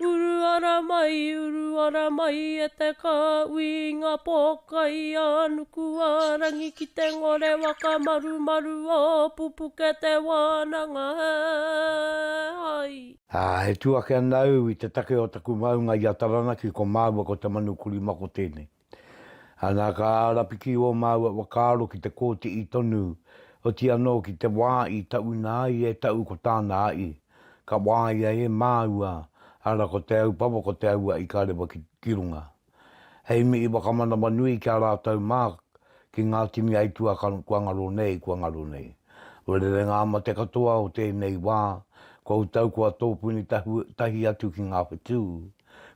Uru ara mai, uru ara mai e te kāui i ngā pōkai a Nukuārangi ki te ngore whakamarumaru o pupuke te wānanga he hai. Ā, e tū ake ana au i te take o taku maunga i a Taranaki, ko māua ko Te Manu Kurimako tēnei. Ana ka ārapiki ō māua whakaaro ki te kōti'i tonu, oti anō ki te wā i tauna ai e Tau ko tāna a'i, ka wāia e māua, ara ko Te Aupawa ko Te Aua i ka rewa ki, ki runga. Hei mihi whakamanawa nui ki a rātou mā ki ngā tini aitua ka, kua ngaro nei, kua ngaro nei. Ua rere ngā mate katoa o tēnei wā, koutou kua tōpuni tahu, tahi atu ki ngā whetū,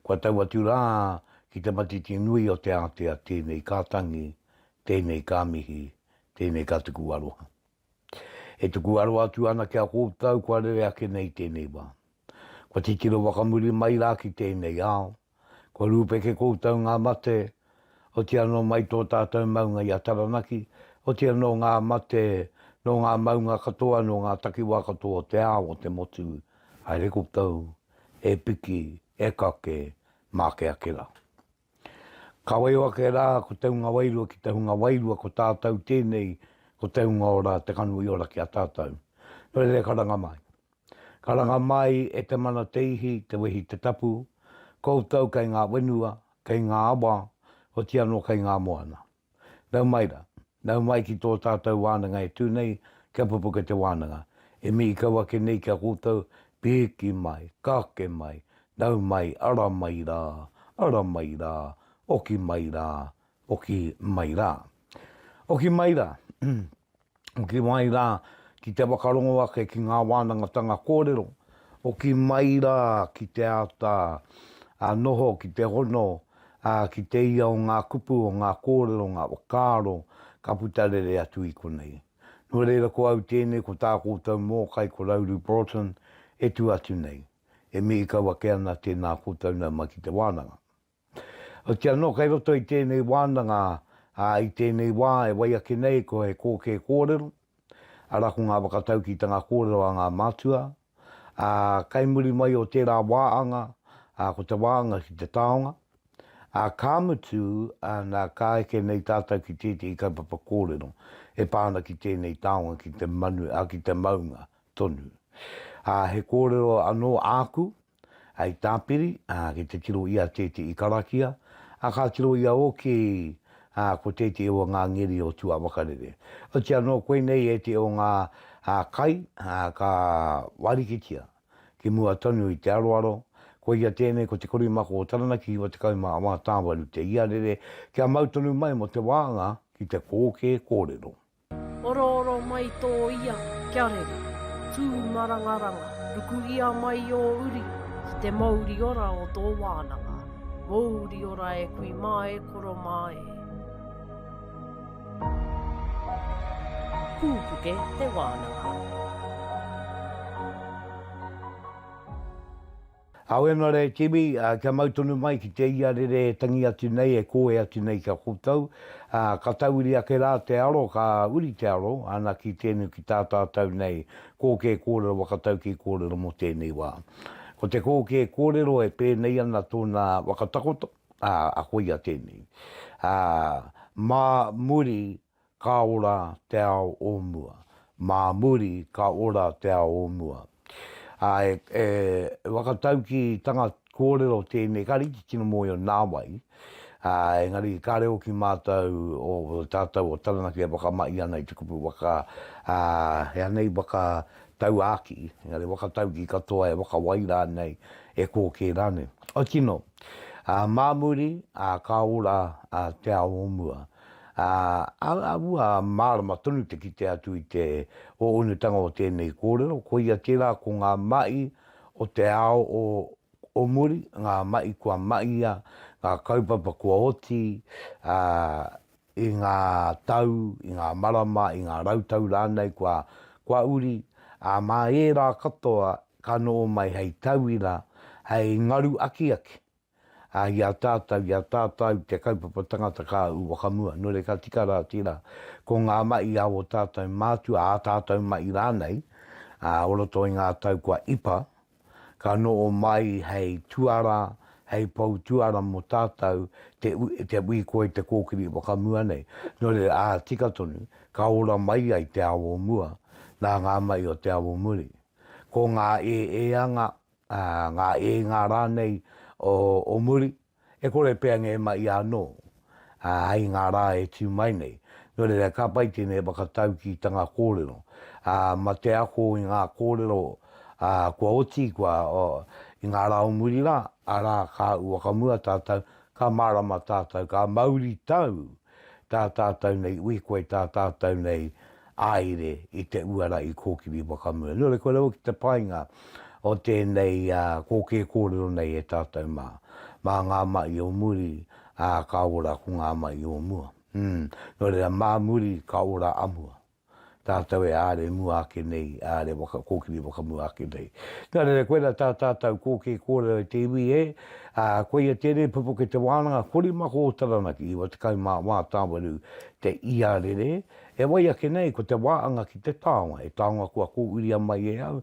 kua tau atu rā Ki te matiti nui o te ātea tēnei ka tangi, tēnei ka mihi, tēnei ka tuku aroha. E tuku aroha atu ana ki a koutou kua rere ake nei tēnei wā. Kua titiro whakamuri mai rā ki tēnei ao, kua rūpeke koutou ngā mate, otiia nō mai tō tātou maunga i a Taranaki, otiia nō ngā mate, nō ngā maunga katoa, nō ngā takiwā katoa o te ao, o te motu, haere koutou, e piki, e kake, Mākeakerā. Ka waio ake rā ko Te Hunga Wairua ki Te Hunga Wairua ko tātau tēnei ko Te Hunga Ora te kanu i ora ki a tātau. Nō reira karanga mai. Karanga mai e te mana te ihi, te wehi te tapu, koutou kei ngā wenua, kei ngā awa, otianō kei ngā moana. Nau mai ra. Nau mai ki tō tātou wānanga e tū nei, kia pupuke te wānanga. E mihi kau ake nei ki a koutou, pēki mai, kake mai, nau mai, ara mai rā, ara mai rā, oki mai rā, oki mai rā. Oki mai rā. hoki mai rā ki te whakarongo ake ki ngā wānangatanga kōrero, hoki mai rā ki te āta noho, ki te hono, ki te ia o ngā kupu, o ngā kōrero, ngā whakaaro ka puta rere atu i konei. Nō reira ko au tēnei, ko tā koutou mōkai, ko Rauru Broughton, e tū atu nei. E mihi kau ake ana, tēnā koutou nau mai ki te wānanga. Otirā anō kei roto i tēnei wānanga, ā, i tēnei wā e wai ake nei ko he kōkē kōrero, arā ko ngā whakataukitanga kōrero a ngā mātua, ā, kei muri mai o tērā wāanga, ā, ko te wāanga ki te taonga, ā, ka mutu, ā, nā, ka eke nei tātou ki tētehi kaupapa kōrero e pā ana ki tēnei taonga, ki te manu, ā, ki te maunga tonu. Ā, he kōrero anō āku, Hei tāpiri, ki te tiro i a Tēti i karakia, ā, ka tiro i a Oki, ā, ko Tēti e o ngā ngeri o Tūāwakarere. Oti anō, koinei e te o ngā kai ka wārikitia ki mua tonu i te aroaro, koia tēnei ko te korimako o Taranaki Hiwa 18 te iarere kia mau tonu mai mō te wānga ki te kōkē kōrero. Orooro mai tō ia kia rere, tū marangaranga, ruku ia mai ō uri ki te mouri ora o tō wānanga, mouri ora e kui mā e koro mā e. Kūpuke te wānanga. Aue na re Tibi, kia mau tonu mai ki te iarere e tangi atu nei, e koe atu nei ki a koutou, ka tauiri ake ra te aro, ka uri te aro, ana ki tenu ki ta tatou nei, koke korero wakatau ki korero mo tenei wa. Ko te koke korero e penei ana tona wakatakoto, a koia tenei. Ma muri ka ora te ao o mua. Mā muri ka ora te ao o mua. Ā, e, e whakataukī tanga kōrero tēnei, kāre i te tino mōhio nā wai, ā, engari kāre hoki mātou o tātou o Taranaki e whakamahi ana i te kupu waka, ā, he aha nei, waka tauākī, engari whakataukī katoa e whakawai rānei, e kō kē rānei. Otirā, ā, mā muri, ā, ka ora, ā, te ao o mua. Ā, āhua mārama tonu te kite atu i te ōunutanga o tēnei kōrero, koia tērā ko ngā mahi o te ao o o muri, ngā mahi kua mahia, ngā kaupapa kua oti, ā, i ngā tau, i ngā marama, i ngā rautau rānei kua, kua uri, ā, mā ērā katoa ka noho mai hei tauira, hei ngaru akiaki. Ā, i a tātou, i a tātou te kaupapa tangata kā ū whakamua, nō reira ka tika rā tērā. Ko ngā mahi a ō tātou mātua, ā tātou mahi rānei, ā, o roto i ngā tau kua ipa, ka noho mai hei tuara, hei pou tuara mō tātou te, te ui koe te kōkiri whakamua nei. Nō reira, ā, tika tonu, ka ora mai ai te ao o mua nā ngā mahi o te ao o muri. Ko ngā ēēanga ngā ēnga rānei o muri, e kore pea ngē ma ia anō, ā, hei ngā rā e tū mai nei. Nō reira, ka pai tēnei whakataukītanga kōrero, ā, ma te ako i ngā kōrero, ā, kua oti, kua, ō, i ngā rā o muri rā, arā, kāu whakamua tātou, ka mārama tātou, ka mauritau tā tātou nei ui koe tā tātou nei āire i te uara i kōkiri whakamua. Nō reira, kua raua ki te painga o tēnei kōkē kōrero nei e tātou mā. Mā ngā mahi o muri, ka ora ko ngā mahi o mua. Nō reira, mā muri ka ora a mua. tātou e āre mua ake nei, e āre waka, kōkiri whakamua ake nei. Nō reira, koirā tā tātou kōkē kōrero i te iwi e, ā, koia tēnei pupuke te wānanga korimako o Taranaki, 94 tāwaru te iarere, e wai ake nei ko te wāanga ki te taonga, he taonga kua kōuria mai e au,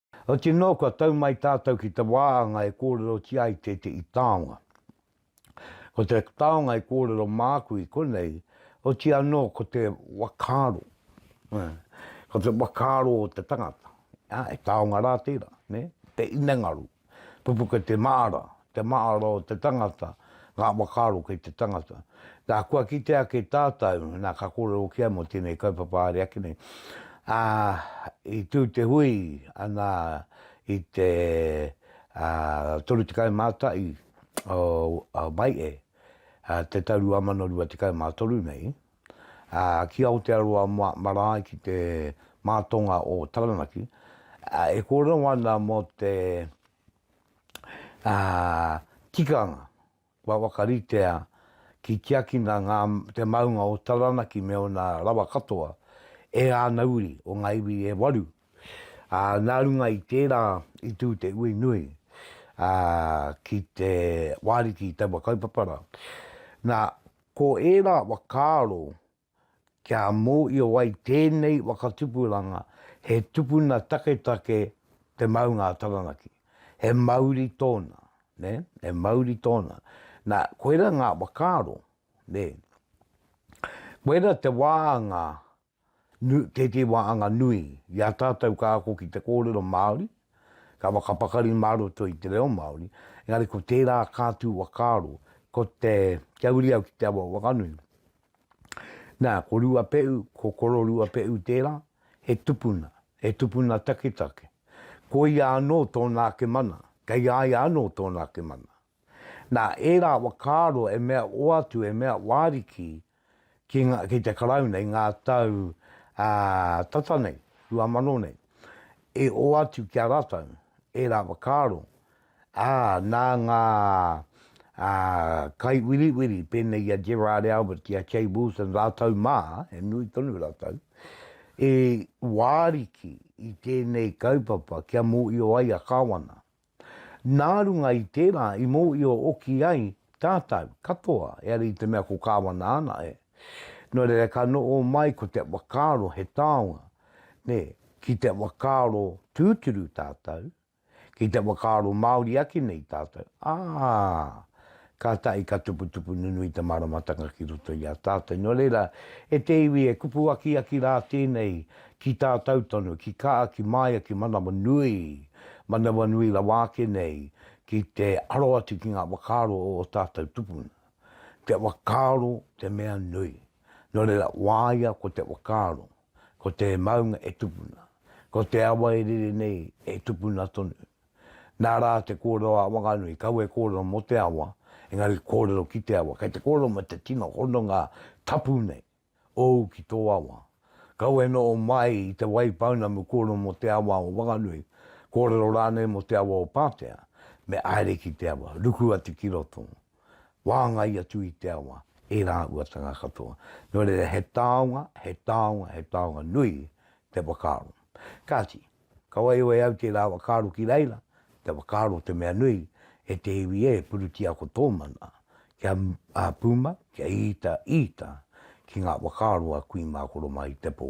Otirā nō kua tau mai tātou ki te wāhanga e kōrerotia ai tētehi taonga. Ko te taonga i kōrero māku i konei, otirā nō ko te whakaaro, ko te whakaaro o te tangata, he taonga rā tērā, te hinengaro, pupuke te māra, te maaro o te tangata, ngā whakaaro kei te tangata. Na, kua kite ake tātou, na, ka kōrero hoki ai mō tēnei kaupapa haere ake nei, ā, i tū te hui ana i te 30 Mātai o Mae'e, te tau 2023 nei, ā, ki Aotearoa marae ki te mātonga o Taranaki, e kōrero ana mō te ā, tikanga, kua whakaritea ki tiakina ngā, te maunga o Taranaki me ōna rawa katoa e āna uri o ngā iwi e waru, ā, nā runga i tērā i tū te ui nui, ā, ki te wārithi i taua kaupapa rā. Nā, ko ērā whakaaro kia mōhio ai tēnei waka tupuranga he tupuna taketake te maunga a Taranaki. He mauri tōna, nē, he mauri tōna. Nā, koirā ngā whakaaro, nē. Koirā te wāanga, tētē wāanga nui i a tātou ka ako ki te kōrero Māori, ka whakapakari mā roto i te reo Māori, engari ko tērā kā tū whakaaro, ko te kia uri au ki te awa o Whanganui. Nā, ko Ruapehu, ko Kororuapehu tērā, he tupuna, he tupuna taketake. Ko ia anō tōna ake mana, kei a ia anō tōna ake mana. Nā, ērā whakaaro e mea oatu, e mea wāriki ki, nga, ki te Karauna i ngā tau ā, tata nei, rua mano nei, e oatu ki a rātou ērā whakaaro, ā, nā ngā kaiwiriwiri pēnei i a Gerard Albert ki a Kay Wilson rātou mā, he nui tonu rātou, e wāriki i tēnei kaupapa kia mōhio ai a Kāwana. Nā runga i tērā i mōhio hoki ai tātou katoa, heari i te mea ko Kāwana ana e. Nō reira ka noho mai ko te whakaaro he taonga, nē, ki te whakaaro tūturu tātou, Ki te whakaaro Māori ake nei tātou, ā, kātahi ka tuputupu nunui te māramatanga ki roto i a tātou. Nō reira, e te iwi e kupu akiaki rā tēnei ki tātou tonu, ki kā, ki māia, ki manawanui, manawanui rawa ake nei, ki te aro atu ki ngā whakaaro o ō tātou tupuna. Te whakaaro te mea nui. Nō reira, wāia ko te whakaaro. ko te maunga e tupuna, ko te awa e rere nei e tupuna tonu. Nā rā te kōrero a Wanganui, kau e kōrero mō te awa, engari kōrero ki te awa. Kei te kōrero me te tino hononga tapu nei, ōu ki tō awa. Kau e noho mai i Te Waipounamu kōrero mō te awa o Wanganui, kōrero rānei mō te awa o Pātea, me haere ki te awa, ruku atu ki roto. wāngai atu i te awa, e rāhuatanga katoa. Nō reira, he taonga, he taonga, he taonga nui te whakaaro. Kāti, ka waewae au tērā whakaaro ki reira, te whakaaro te mea nui, e te iwi ē, purutia ko tō mana, kia pūmau, kia īta, īta ki ngā whakaaro a Kui Mākoromā i te pō.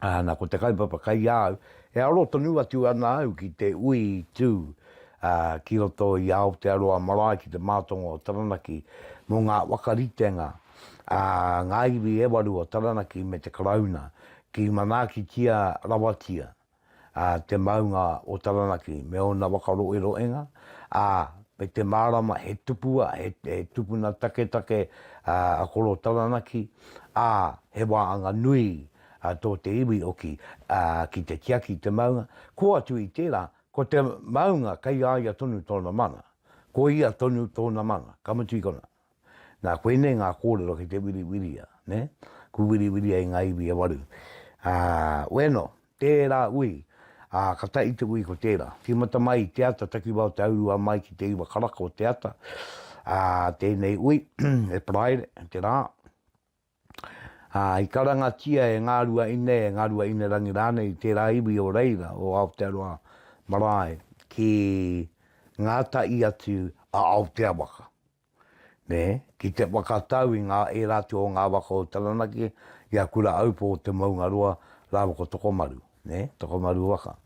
Ā, nā, ko te kaupapa kai a au, e aro tonu atu ana au ki te ui tū ki roto i Aotearoa marae, ki te mātonga o Taranaki, mō ngā waka ritenga a ngā iwi e waru o Taranaki me te Karauna, ki manaakitia rawatia. ā, te maunga o Taranaki me ōna waka roeroenga, ā, me te mārama he tupua, he, he tupuna taketake a Koro Taranaki, ā, he wāanga nui a tō te iwi oki ā, ki te tiaki i te maunga, ko atu i tērā, ko te maunga kei a ia tonu tōna mana, ko ia tonu tōna mana, ka mutu i konā. Nā, koinei ngā kōrero ki te wiriwiria, nē? Ku wiriwiria i ngā iwi e waru. Ā, ueno, tērā ui, ā, ka tahi te ui ko tērā. Tīmata mai i te ata, takiwā o te aurua mai ki te iwa karaka o te ata, ā, tēnei ui, e paraire, te rā, ā, i karangatia e ngā ruaine, e ngā ruaine rangi rānei i tērā iwi o reira, o Aotearoa marae, ki ngā tahi atu a Aotea waka, nē, ki te whakatau i ngā, ērā atu o ngā waka o Taranaki, i a Kura Aupō o Te Maungaroa rāua ko Tokomaru. nē, Tokomaru waka.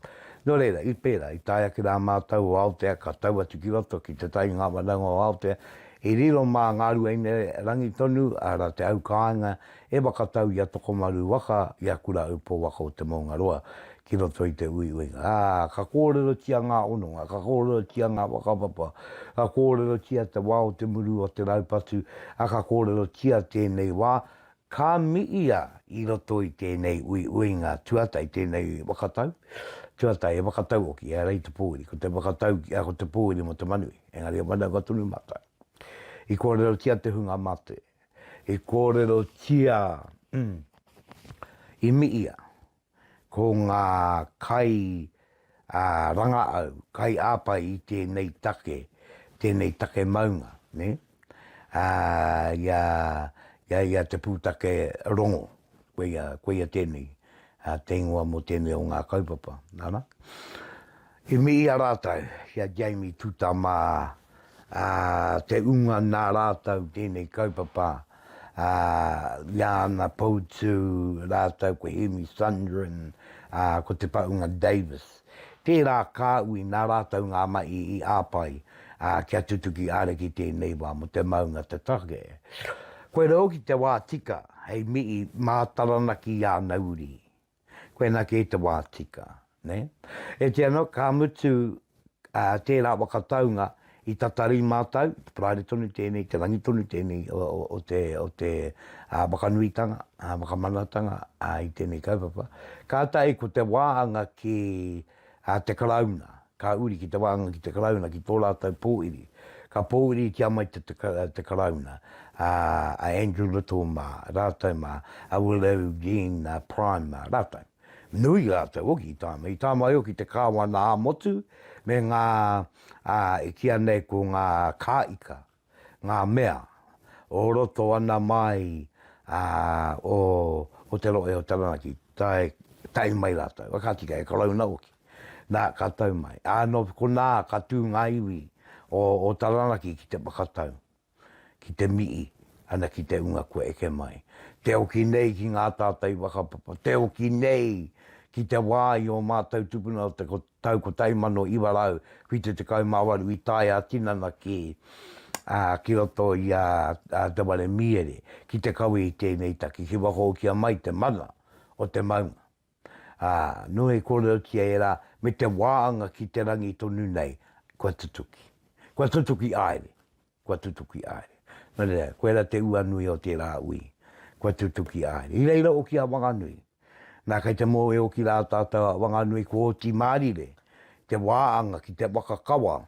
Nō reira, i pērā, i tae ake rā mātou o Aotea ka tau atu ki roto ki te tai ngā wanaunga o Aotea, i riro mā ngā Ruaine-rangi tonu, arā, te aukāinga e whakatau i a Tokomaru waka, i a Kura Upo waka o Te Maungaroa, ki roto i te uiuinga. Ā, ka kōrerotia ngā hononga, ka kōrerotia ngā whakapapa, ka kōrerotia te wā o te muru o te raupatu, ā, ka kōrerotia tēnei wā, Ka miia i roto i tēnei uiuinga tuata, i tēnei whakatau, tuata he whakatau hoki, ehara i te pōuri, ko te whakatau, ko te pōuri mō te manu, engari he manawa tonu mātou. I kōrerotia te hunga mate, i kōrerotia, i miia, Ko ngā kai a rangaau, kai āpae i tēnei take, tēnei take maunga, nē? Ā, ia, ia, ia te pūtake rongo, koia, koia tēnei, ā, te ingoa mō tēnei o ngā kaupapa, ara. I mihi a rātou ki a Jamie Tūtama ā, te unga nā rātou tēnei kaupapa, ā, i a Ana Poutū rātou ko Hemi Sundrin, ā, ko Te Paunga Davis. Tērā kāhui nā rātou ngā mahi i āpae, ā, kia tutuki ariki tēnei wā mō te maunga te take. Koirā hoki te wā tika hei mihi mā Taranaki i a Nauri. koina kē te wā tika. Nē? E te anō, ka mutu tērā waka taunga i tatari mātou, te paraire tonu tēnei, te rangi tonu tēnei o te whakanuitanga, whakamanatanga i tēnei kaupapa. Kātahi ko te wāhanga ki te Karauna, Ka uri ki te wānanga ki te Karauna ki tō rātou pōwhiri. Ka pōwhiritia mai te Karauna, a Andrew Little mā, rātou mā, a Willow Jean Prime mā, rātou. Nui rātou hoki i tāmai, i tāmai hoki te kāwana ā-motu me ngā, e kīia nei ko ngā kāika, ngā mea o roto ana māi o te rohe o Taranaki, tae, tae mai rātou, ka tika he Karauna hoki, nā, ka tau mai. Ā, nō konā ka tū ngā iwi o Taranaki ki te whakatau, ki te mihi ana ki te hunga kua eke mai. Te hoki nei ki ngā tātai whakapapa, te hoki nei ki te wā i ō mātou tupuna o te tau 1978 i tae ā-tinana ki, ā, ki roto i a Te Ware Mīere ki te kawe i tēnei take ki whakahokia mai te mana o te maunga. Ā, nō i kōrerotia e rā, me te wāanga ki te rangi tonu nei, kua tutuki. Kua tutuki aere. Kua tutuki a haere. Nō reira, koe rā te ua nui o tērā ui. Kua tutuki a haere. I reira oki a Wanganui. Nā, kei te mōwe oki rā tātou a Wanganui kua oti Mārire, te wā anga ki te waka kawa,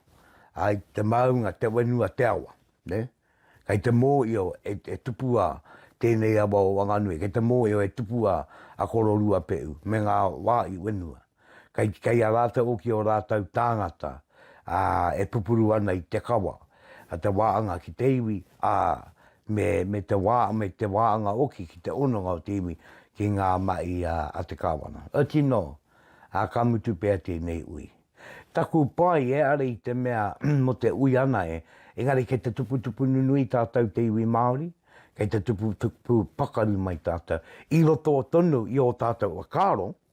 āe, te māunga, te whenua, te awa. Nē? Kei te mōio e, e tupu a tēnei awa o Wanganui, kei te mōio e tupu a, a Kororuapehu me ngā wā i whenua. Kei, kei a rātou hoki ō rātou tāngata, ā, e pupuru ana i te kawa, a te wāanga ki te iwi, ā, me, me te wā, me te wāanga hoki ki te hononga o te iwi ki ngā mahi a, a te Kāwana. Ā, tino, ā, ka mutu pea tēnei ui. Taku pai, e are i te mea mō te ui ana e, engari kei te tuputupu nunui tātou te iwi Māori, kei te tuputupu pakari mai tātou, i roto tonu i ō tātou whakaaro,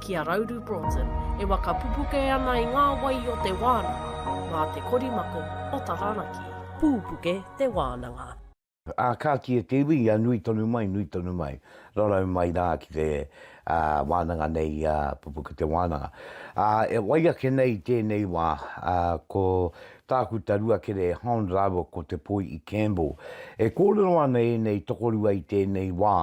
Ki a Rauru Broughton, e waka pupuke ana i ngā wai o te wānanga, mā te korimako o Taranaki. Pūpuke te wānanga. Ā, ka kī e te iwi, ia nui tonu mai, nui tonu mai, rarau mai rā ki te wānanga nei i a Pupuke te wānanga. Ā, e wai ake nei i tēnei wā, ko Tākuta Ruakere Hond rāua ko Te Poi'i Campbell, e kōrero ana ēnei tokorua i tēnei wā,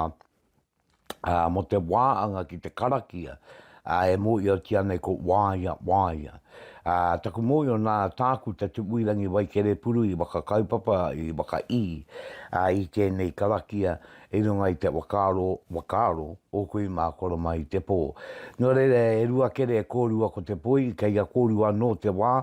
ā, mō te wāanga ki te karakia, ā, e mōhiotia nei ko Waea, Waea. Ā, taku mōhio nā Tākuta Tupuirangi Waikerepuruhi whakakaupapa i waka i, ā, i tēnei karakia i runga i te whakaaro, whakaaro o kui mā koro mai te pō. Nō reira e rua kere e kōrua ko te poi, kei a kōrua anō te wā,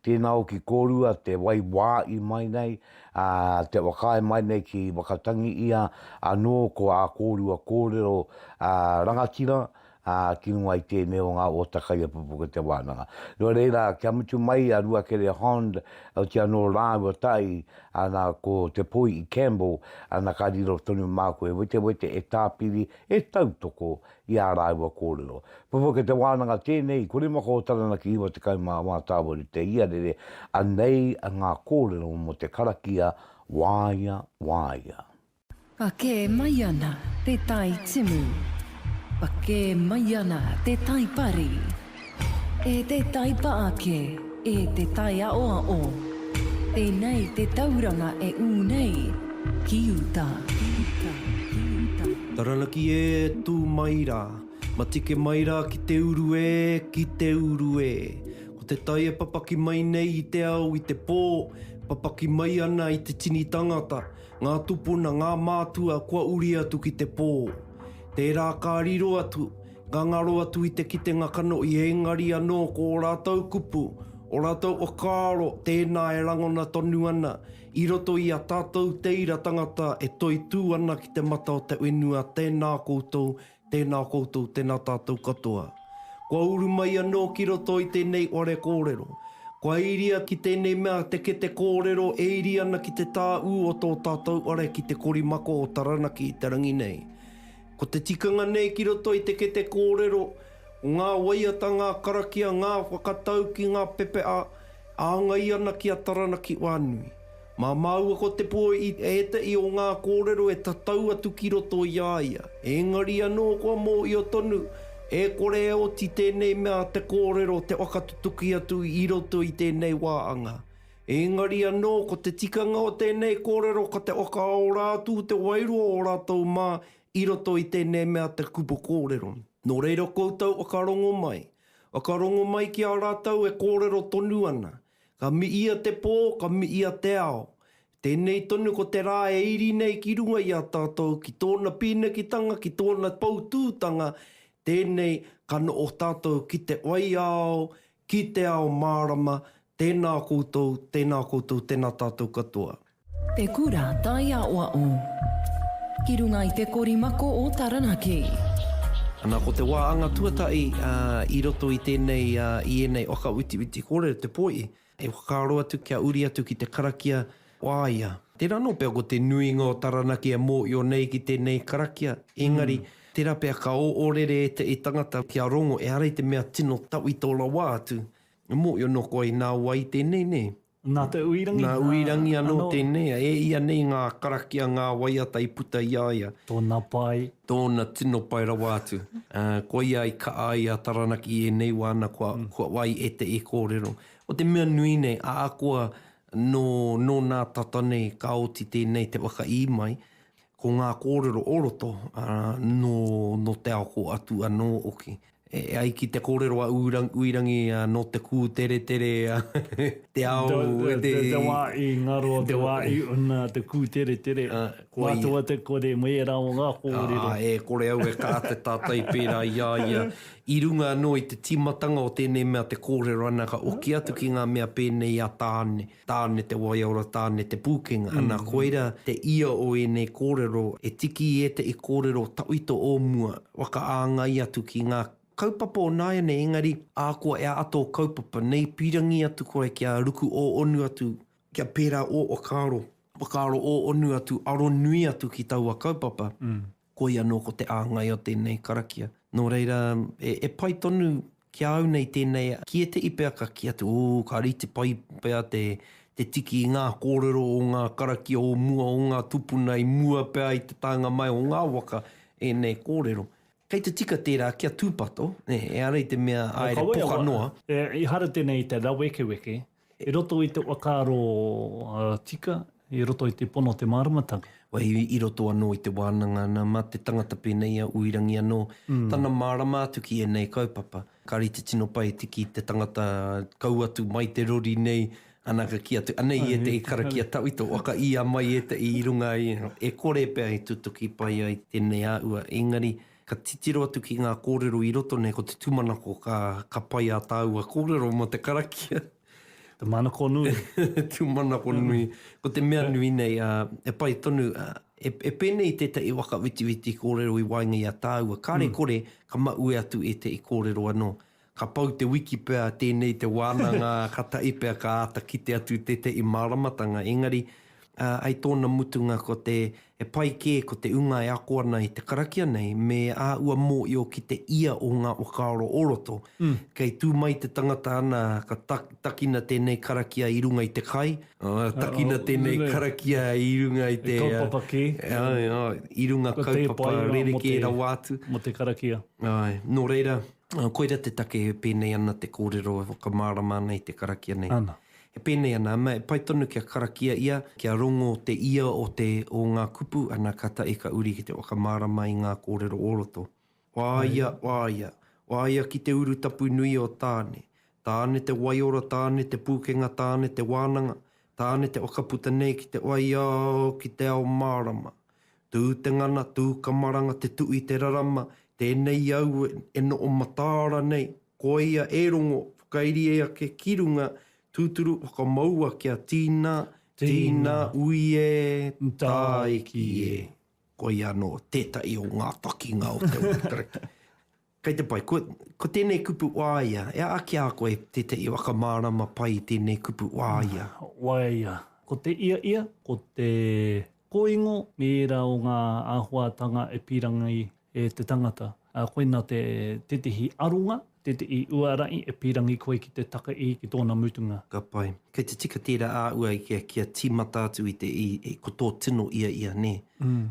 tēnā hoki kōrua te wai wā i mai nei, Ā, te whakaae mai nei ki Wakatangi ia anō ko ā kōrua kōrero ā rangatira, ā, ki runga i tēnei o ngā ōta kaiapupu ki te wānanga. Nō reira, kia mutu mai a Ruakere Hond, oti anō rāua tai, ana ko Te Poi i Campbell, ana ka riro tonu māku e wetewete, e tāpiri, e tautoko, i ā rāua kōrero. Papa ki te wānanga tēnei, i kore maka o Taranaki 94 tāwari te iarere, anei ngā kōrero mō te karakia Wāia, Wāia. Pakē mai ana te tai timu. Pakē mai ana te tai pari. E te taipa ake, e te taiaoao, tēnei te tauranga e ū nei ki uta, ki uta, ki uta. Taranaki e, tū mai rā. Matike mai rā ki te uru e, ki te uru e. Ko te tai e papaki mai nei i te ao i te pō, e papaki mai ana i te tini tangata, ngā tupuna, ngā mātua kua uri atu ki te pō. Tērā ka riro atu, Ka ngaro atu i te kitenga kanohi engari anō ko ō rātou kupu, ō rātou whakaaro tēnā e rangona tonu ana i roto i a tātou tēira tangata e toitū ana ki te mata o te whenua tēnā koutou, tēnā koutou, tēnā tātou katoa. Kua uru mai anō ki roto i tēnei whare kōrero. Kua iria ki tēnei mea te kete kōrero e iri ana ki te tāū o tō tātou whare ki te korimako o Taranaki i te rangi nei. Ko te tikanga nei ki roto i te kete kōrero, ko ngā waiata, ngā karakia, ngā whakatauki, ngā pepeʻa, e āngai ana ki a Taranaki Whānui. Mā māua ko te pō i ēteʻi o ngā kōrero e tatau atu ki roto i a ia, ēngari anō kua mōhio tonu, e kore e oti tēnei mea te kōrero te whakatutuki atu i roto i tēnei wā anga. Engari anō, ko te tikanga o tēnei kōrero ka te whakaora atu te wairua o rātou mā i roto i tēnei mea te kupu kōrero. Nō reira koutou whakarongo mai, whakarongo mai ki a rātou e kōrero tonu ana, ka miia te pō, ka miia te ao. Tēnei tonu ko te rā e iri nei ki runga i a tātou ki tōna pīnekitanga, ki tōna poutūtanga, tēnei ka noho tātou ki te waiao, Ki te ao mārama, tēnā koutou, tēnā koutou, tēnā tātou katoa. Te Kura Taiaoao Ki runga i te kori mako o Taranaki. Ana ko te wā anga tuatahi i roto i tēnei, i ēnei whakawitiwiti kōrero te poi, e whakaaro atu kia uri atu ki te karakia Wāia. Tērā anō pea ko te nuinga o Taranaki e mōhio nei ki tēnei karakia, engari, tērā pea ka oō rere ētahi tangata kia rongo ehara i te mea tino tawhito rawa atu, e mōhio noa koa i nā wai tēnei, nē? Nā Te Uirangi. Nā Uirangi anō tēnei, e ia nei ngā karakia, ngā waiata i puta i a ia. Tōna pai. Tōna tino pai rawa atu. Koia i kaʻa ai a Taranaki i ēnei wā ana kua wai ētahi kōrero. Ko te mea nui nei, ahakoa Nō, nō nā tata nei ka oti tēnei te whakaī mai, ko ngā kōrero o roto, ā, nō, nō te ao ko Atu anō hoki. E ai ki te kōrero a Uirangi, ā, nō te kūteretere te ao e te. Te, te wā i ngaro, te wā i una te kūteretere. Mātua te kore me ērā o ngā kōrero. Ā, e kore au e kā te tātai pērā i a ia I runga anō i te tīmatanga o tēnei mea te kōrero ana ka oki atu ki ngā mea pēnei a Tāne, Tāne te waiora, Tāne te pūkenga, ana koira te ia o ēnei kōrero, he tiki i ētehi kōrero tawhito o mua, whakaāngai atu ki ngā kaupapa o nāianei engari ahakoa e āta o kaupapa nei pīrangī atu koe kia ruku ō onu atu, kia pērā ō whakaaro, whakaaro ō onu atu, aro nui atu ki taua kaupapa. Koia anō ko te āngai o tēnei karakia. Nō reira, e pai tonu ki a au nei tēnei ki ētehi pea ka kī atu, ū, ka rite pai pea te tiki i ngā kōrero o ngā karakia o mua, o ngā tūpuna i mua pea i te taenga mai o ngā waka ēnei kōrero. Kei te tika tērā kia tūpato, ehara i te mea āere poka noa. Ehara tēnei i te rawekeweke. I roto i te whakaaro tika, i roto i te pono o te māramatanga. Wai, i roto anō i te wānanga ana, mā te tangata pēnei a Uirangi anō, tana mārama atu ki ēnei kaupapa. Ka rite tino pai te ki te tangata kau atu mai te rori nei, ana ka kī atu, anei ētehi karakia tawhito, waka ia mai ētehi i runga i, e kore pea i tutuki pai ai tēnei āhua, engari, Ka titiro atu ki ngā kōrero i roto nei, ko te tūmanako ka, ka pai ā tāua kōrero mō te karakia. Te manako nui. tūmanako nui. Ko te mea nui nei, ā, e pai tonu, ā, e, e pēnei tētahi whakawitiwiti kōrero i waenga i a tāua, kāre kore, ka maue atu ētahi kōrero anō. Ka pau te wiki pea tēnei te wānanga kataʻi pea ka āta kite atu tēteʻi māramatanga engari ai tōna mutunga ko te he pai kē ko te unga e ako ana i te karakia nei me ā ua mōʻio ki te ia o ngā whakaaro o roto. Kei tū mai te tangata ana ka takina tēnei karakia i runga i te kai, takina tēnei karakia i runga i te kaupapa kē, i runga kaupapa rerekē rawa atu, nō reira. Koira te take e pēnei ana te kōrero e whakamārama ana i te karakia nei. Ana. E pēnei ana, ā, e pai tonu kia karakia ia, kia rongo te ia o te o ngā kupu, ana ka tae ka uri ki te whakamārama i ngā kōrero o roto. Wāia, wāia, wāia ki te urutapu nui o Tāne. Tāne te waiora, Tāne te pūkenga, Tāne te wānanga, Tāne te whakaputa nei ki te waiao, ki te ao mārama. Tū te ngana, tū ka maranga te tu i te rarama, tēnei au e noho mataara nei, koia e rongo, whakairie ake ki runga, tūturu whakamaua kia tīna, tīna, ui e, tāiki e. Koia anō tētahi o ngā takinga o Te Ūpekereke. Kei te pai, ko, ko tēnei kupu waea, e aha ki a koe tētahi whakamārama pai i tēnei kupu waea? Waea, ko te ia ia, ko te kōingo me ērā o ngā āhuātanga e pīrangī e te tangata. Ā, koina te, tētahi aronga, tētahi uarahi e pīrangī koe ki te taka i, ki tōna mutunga. Ka pai. Kei te tika tērā a ua i kia, kia tīmata atu i te, i, i, ko tō tino ia ia, nē?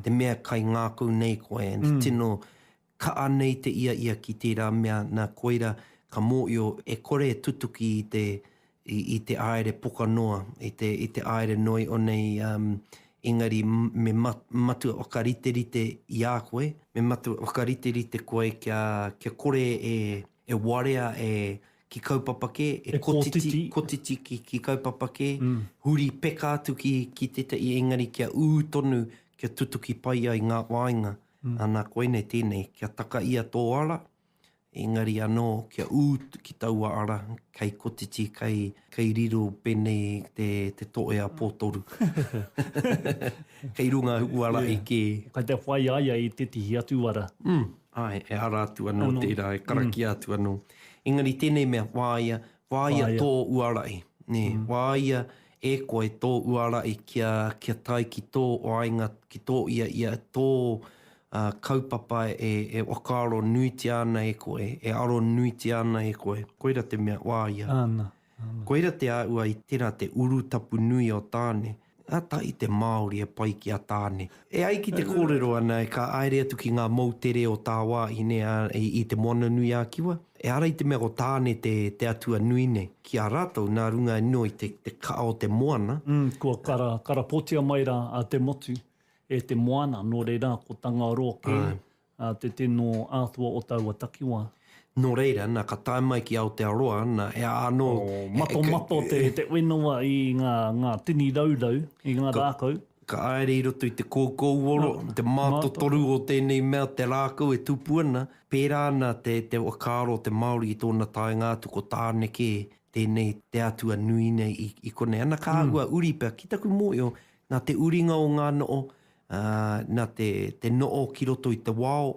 Te mea kai ngākau nei koe, and tino, Ka anei te ia ia ki tērā mea nā koira ka mōio e kore e tutuki i te i te aere poka noa, i te i te aere noi o nei um engari me ma matua whakariterite i a koe, me matua whakariterite koe kia kia kore e e warea e ki kaupapa kē, e kotiti kotiti ki ki kaupapa kē, huri peka atu ki ki tētahi engari kia ū tonu kia tutuki pai ai ngā whāinga. Ana koinei tēnei, kia taka ia tō ara, engari anō kia ū ki taua ara, kei kotiti, kei, kei riro pēnei te, te toe a Pōtoru. kei runga ū ara e kē. Kei te whai a ia i tētehi atu ara. Āe, e ara atu anō tērā, e karakia atu anō. Engari tēnei mea whāia, Whāia tō uarahi, nē, whāia e koe tō uarahi kia, kia tae ki tō waenga, ki tō ia, ia tō kaupapa e, e whakaaro nuitia ana e koe, e aro nuitia ana e koe, koira te mea whāia. Āna, āna. Koira te āhua i tērā te urutapu nui o Tāne. Nga tai te Maori e pai ki a Tane. E ai ki te kōrero ana e ka aere atu ki ngā moutere o tāwāhine i Te Moananui-a-Kiwa, ehara i te mea ko Tane te atua nui nei. Ki a rātou, nā runga anō i te kaha o te moana. Umm, kua karapotia mai rā a Te Motu e te moana, nō reira, ko Tangaroa kē, A te te no atua o taua takiwa. No reira, na ka tae mai ki Aotearoa, na he aha ano. O matomato te wenawa i nga nga tini raurau, i nga rakau. Ka aere i roto i te koukouoro, te matotoru o tenei mea, te rakau e tupu ana, pera ana te te whakaaro o te Maori i tona taenga atu ko tane ke tenei te atua nui nei i i konei. Ana ka ahua uri pea ki taku mohio na te uringa o nga no o ā, nā te, te noʻo ki roto i te wao,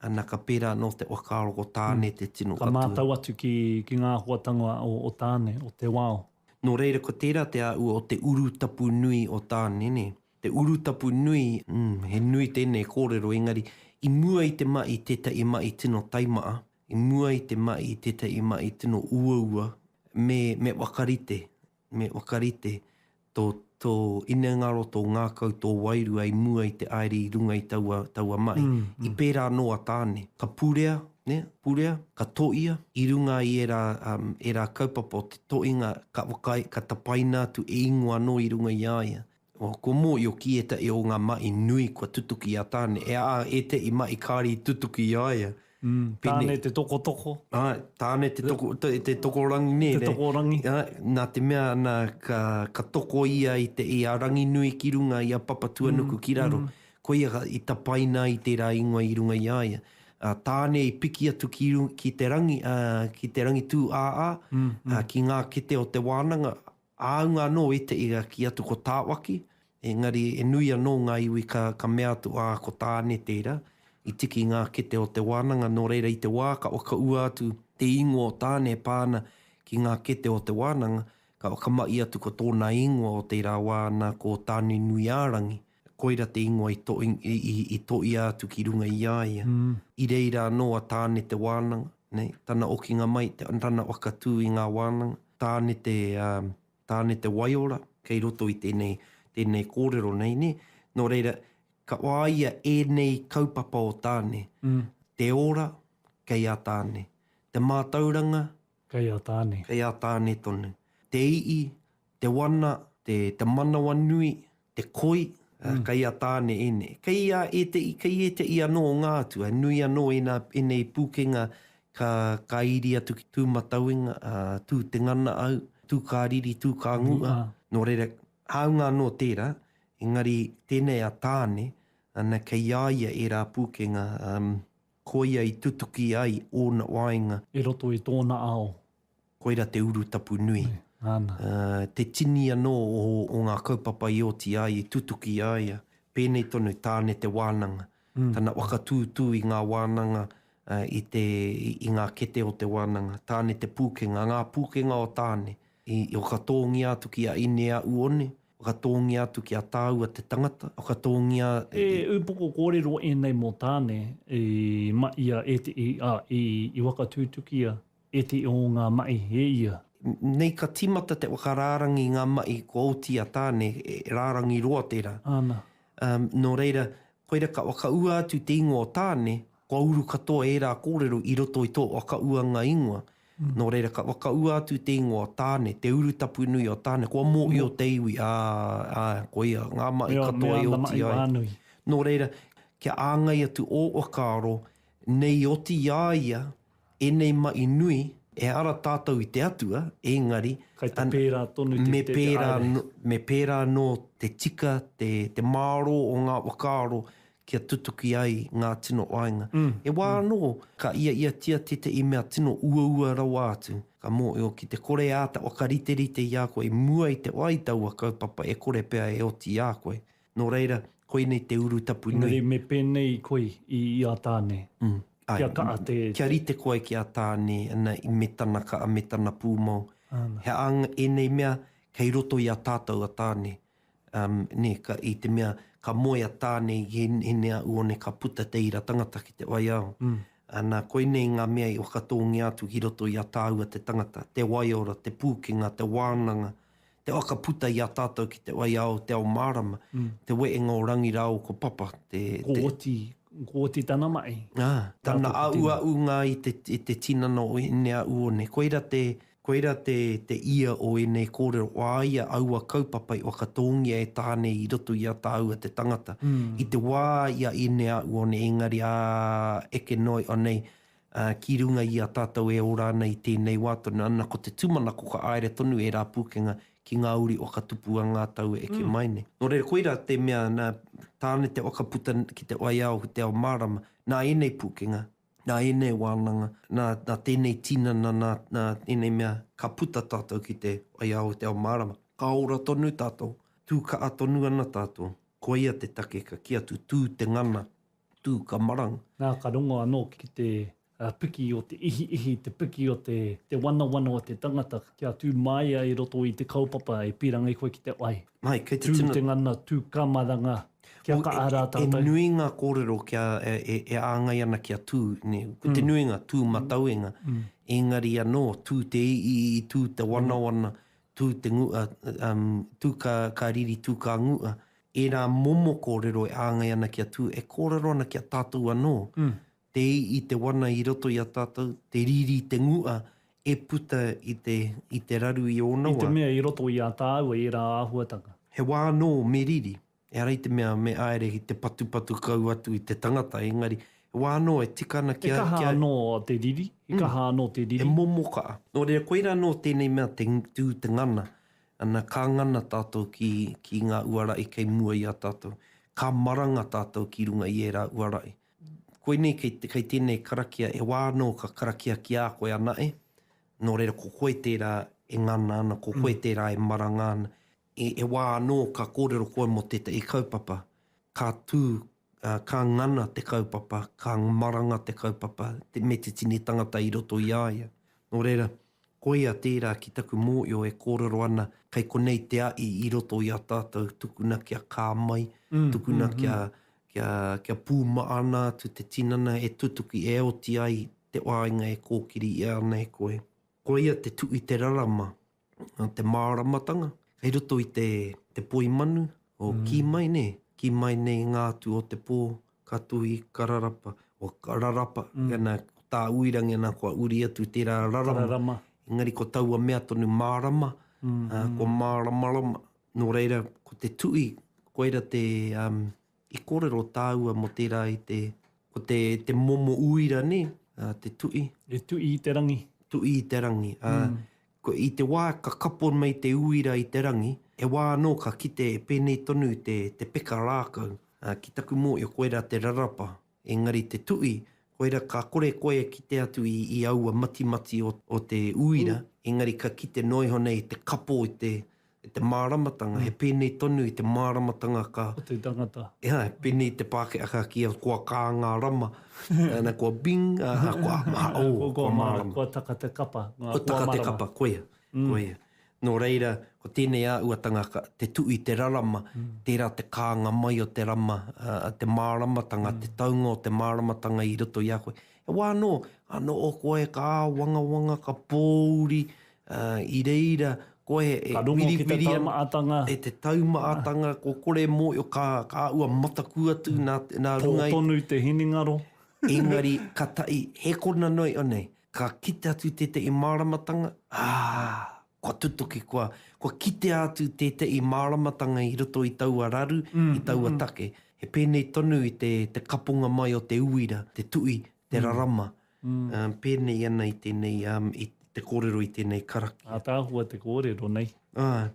nā ka pērā anō te whakaaro ko Tāne te tino atua. Ka mātau atu ki, ki ngā āhuatanga o, o Tāne, o te wao. Nō reira ko tērā te āhua o te urutapu nui o Tāne, nē. Te urutapu nui, mm, he nui tēnei kōrero, engari, i mua i te maʻi tētahi maʻi tino taimaʻa, i mua i te maʻi tētahi maʻi tino uaua, me, me whakarite Me whakarite tō, tō inengaro, tō ngākau, tō wairua i mua i te aere i runga i taua, taua mahi. I pērā anō a Tāne. Ka purea, nē, purea, ka toia i runga i ērā, ērā kaupapa o te toinga ka whakaae, ka tapaina atu e ingoa anō i runga i a ia. Ko mō i o ki etahi o nga maʻi nui kua tutuki i a Tane, e a etahi maʻi kāre i tutuki i a ia. Pēnei. Tane te tokotoko. Āe, Tane te toko, te tokorangi nei. Te tokorangi. Āe, nā te mea ana ka, ka toko ia i te, i a Ranginui ki runga, i a Papatuanuku ki raro, koia i tapaina ai tērā ingoa i runga i a ia. A Tane i piki atu ki runga, ki te rangi, ki te rangi tū āā, ki ngā kete o te wānanga, Āunga anō i te iga kī atu ko Tāwaki, engari he nui anō ngā iwi ka, ka mea atu, ā, ko Tāne tērā, i tiki ngā kete o te wānanga, nō reira i te wā ka, ka ua atu te īngoa o Tāne e pā ana ki ngā kete o te wānanga, ka, ka mahi atu ko tōna īngoa o tērā wā nā ko Tānenuiārangi. Koira te ingoa i toia atu ki runga i a ia. I reira anō a Tāne te wānanga, nei, tana okinga mai, tana whakatū i ngā wānanga. Tāne te, Tāne te waiora kei roto i tēnei, tēnei kōrero nei, nē? Nō reira, ka whāia ēnei kaupapa o Tāne, te ora, kei a Tāne, te mātauranga, kei a Tāne, kei a Tāne tonu, te ii, te wana, te te manawanui, te koi, kei a Tāne ēnei. Kei a ēteʻi, kei ēteʻi anō o ngā atua, he nui anō ēnā, ēnei pūkenga ka ka iri atu ki Tūmatauenga, ā, tū te ngana au, tū kā riri, tū kā nguʻa. Nō reira, hāunga anō tērā, engari tēnei a Tāne, ana, kei a ia ērā pūkenga, Koia i tutuki ai ōna waenga. I roto i tōna ao. Koira te urutapu nui. Nana. Te tini anō o ngā kaupapa i oti i a ia, i tutuki i a ia. Pēnei tonu, Tāne te wānanga. Tana whakatūtū i ngā wānanga, i te, i ngā kete o te wānanga. Tāne te pūkenga, ngā pūkenga o Tāne. I whakatōngia atu ki a Ine-a-Uone, Whakatōngia atu ki a tāua te tangata, whakatōngia i. He upoko kōrero ēnei mō Tāne i maʻia ēteʻi, ā, i whakatutukia ēteʻi o ngā maʻi e ia. Nei ka tīmata te whakarārangi i ngā maʻi kua oti a Tāne, he rārangi roa tērā. Āna. Nō reira, koira ka whakaua atu te ingoa o Tāne, kua uru katoa ērā kōrero i roto i tō whakaūanga ingoa, Nō reira, ka whakaua atu te ingoa o Tāne, te urutapu nui o Tāne, kua mōhio te iwi, ā, ā, koia, ngā mahi katoa e oti ai. Nō reira, kia āngai atu ō whakaaro nei i oti i a ia ēnei mahi nui, ehara tātou i te Atua, engari, me pērā anō te tika, te mārō o ngā whakaaro kia tutuki ai ngā tino whāinga. He wā anō, ka iaiatia tētahi mea tino uaua rawa atu, ka mōhio ki te kore e āta whakariterite i a koe i mua i te wā i taua kaupapa e kore pea e oti i a koe. Nō reira, koinei te urutapu nui. Engari me pēnei i koe i a Tāne, kia kaha te. Āe, kia rite koe ki a Tāne me tana kaha me tana pūmau. He aha ēnei mea kei roto i a tātou a Tāne? Um, nē, ka, i te mea, ka moe a Tāne i he, he nea u one ka puta te ira tangata ki te waiao. Mm. Ana, koinei ngā mea i whakatōngia atu ki roto i a tāua te tangata, te waiora, te pūkenga, te wānanga, te whakaputa i a tātou ki te waiao o te ao mārama, mm. te wēnga o Rangi rāo ko Papa. Te, ko te... Oti, ko Oti tana mahi. Ah, tana auaunga i te, i te tinana o ēnei a u one. Koira te, te Koira te te ia o ēnei kōrero, o a ia aua kaupapa i whakatōngia e Tāne i roto i a tāua te tangata. I te wā i a Ineaʻuone ēngari ā, eke noa iho nei, ā, ki runga i a tātou e ora ana i tēnei wā tonu, ana ko te tūmanako ka āere tonu ērā pūkenga ki ngā uri whakatupu a ngā tau e eke mai nei. Nō reira koira te mea nā Tāne te whakaputa ki te waiao ki te ao mārama, nā ēnei pūkenga. nā ēnei wānanga, nā, nā tēnei tinana, nā, nā ēnei mea, ka puta tātou ki te whaiāo o te ao mārama. Ka ora tonu tātou, tū kaha tonu ana tātou, koia te take ka kī atu, tū te ngana, tū ka maranga. Nā, ka rongo anō ki te piki o te ihiihi, te piki o te, te wanawana o te tangata, kia tū māia i roto i te kaupapa e pīrangi koe ki te wai. Mai, kei te tino. Tū te ngana, tū ka maranga. Kia kaha rā tātou. E nui ngā kōrero kia, e āngai ana kia tū, nē. Ko te nuinga, tū matauenga. Engari anō, tū te iiii, tū te wanawana, tū te ngu, tū ka, ka riri, tū ka ngu'a. Ērā momo kōrero e āngai ana kia tū, e kōrero ana ki a tātou anō. Te i i te wana i roto i a tātou, te riri i te ngu'a e puta i te, i te raru i ōna wā. I te mea i roto i a tāua ērā āhuatanga. He wā anō me riri, ehara i te mea me āere ki te patupatu kau atu i te tangata, engari he wā anō e tika ana kia. He kaha anō te riri, he kaha anō te riri. He momo kaha. Nō reira koirā anō tēnei mea te tū, te ngana, ana ka ngana tātou ki, ki ngā uarahi kei mua i a tātou. Ka maranga tātou ki runga i ērā uarahi. Koinei kei tēnei karakia e wā anō ka karakia ki a koe ana e, nō reira ko koe tērā e ngana ana, ko koe tērā e maranga ana. E wā anō ka kōrero koe mō tētahi kaupapa, ka tū, ka ngana te kaupapa, ka maranga te kaupapa me te tini tangata i roto i a ia. Nō reira, Koia tērā ki taku mōio e kōrero ana, kei konei te aʻi i roto i a tātou, tukuna kia kā mai, tukuna kia, kia, kia pūmaʻana atu te tinana e tutuki, e oti ai te whāinga e kōkiri ʻia ana e koe. Koia te tu i te rarama, te māramatanga, kei roto i te, te poimanu, o kī mai nē, kī mai nei ngā atu o te pō, Ka tuhi kararapa, o kararapa, ana, ko tā Uirangi ana kua uri atu i tērā rarama, engari ko taua mea tonu mārama, kua māramarama, nō reira, ko te tuhi, koira te, um, i kōrero tāua mō tērā i te, ko te, te momo uira, nē, te tuhi. E tuhi i te rangi. Tuhi i te rangi, ā, Ko i te wā ka kapo nei te uira i te rangi, he wā anō ka kite e pēnei tonu te te peka rākau, ā, ki taku mōio koirā te rarapa, engari te tuʻi, koirā ka kore koe e kite atu i i aua matimati o o te uira, engari ka kite noa iho nei te kapo i te I te māramatanga, he pēnei tonu i te māramatanga ka. O te tangata. Ia, he pēnei i te Pākehā ka kīa kua kā ngā rama, na, kua bing, a, a, kua, ma, o, kua mārama. Kua taka te kapa, ngā kua marama. Kua taka te kapa, koia, koia. Nō reira, ko tēnei āhuatanga ka, te tuu i te rarama, tērā te kānga mai o te rama, a, a te māramatanga, te taunga o te māramatanga i roto i a koe. He wā anō, anō ō koe ka āwangawanga, ka pōuri, Ā, i reira koe e whiriwhiria e te taumaatanga, ko kore mōio ka, ka āua mataku atu nā, nā runga i. Pō tonu te hinengaro. Engari, ka tahi, he kona noa iho nei, ka kite atu tētehi māramatanga, ā, kua tutuki, kua, kua kitea atu tētehi māramatanga i roto i taua raru, i taua take. He pēnei tonu i te, te kaponga mai o te uira, te tuhi te rarama, pēnei ana i tēnei, i te kōrero i tēnei karakia. Ātaahua te kōrero nei. Āe.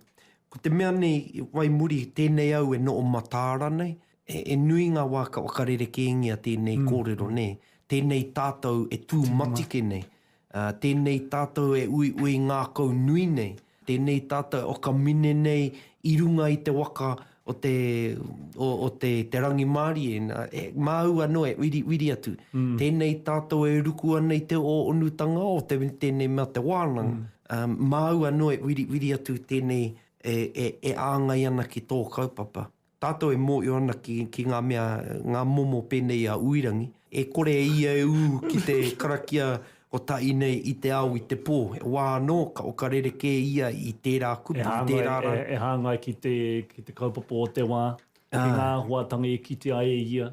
Ko te mea nei, wai muri, tēnei au e noho mataara nei, he nui ngā wā ka whakarerekēngia tēnei kōrero, nē, tēnei tātou e tūmatike nei, Ā, tēnei tātou e uiui ngākau nui nei, tēnei tātou e whakamine nei i runga i te waka o te, o, o te, te rangimārie, nā, e, māu anō e uiriuiri atu. Tēnei tātou e ruku ana i te ō-onutanga o te, tēnei mea te wānanga, ā, māu anō e uiriuiri atu tēnei e, e, e āngai ana ki tō kaupapa. Tātou e mōhio ana ki, ki ngā mea, ngā momo pēnei a Uirangi, e kore e ia e ū ki te karakia o tā ina i te ao, i te pō. He wā anō ka oka rerekē ia i tērā kupu, i tērā rā. E hāngai, e, e hāngai ki te, ki te kaupapa o te wā, ki ngā āhuatanga e kitea ai e ia.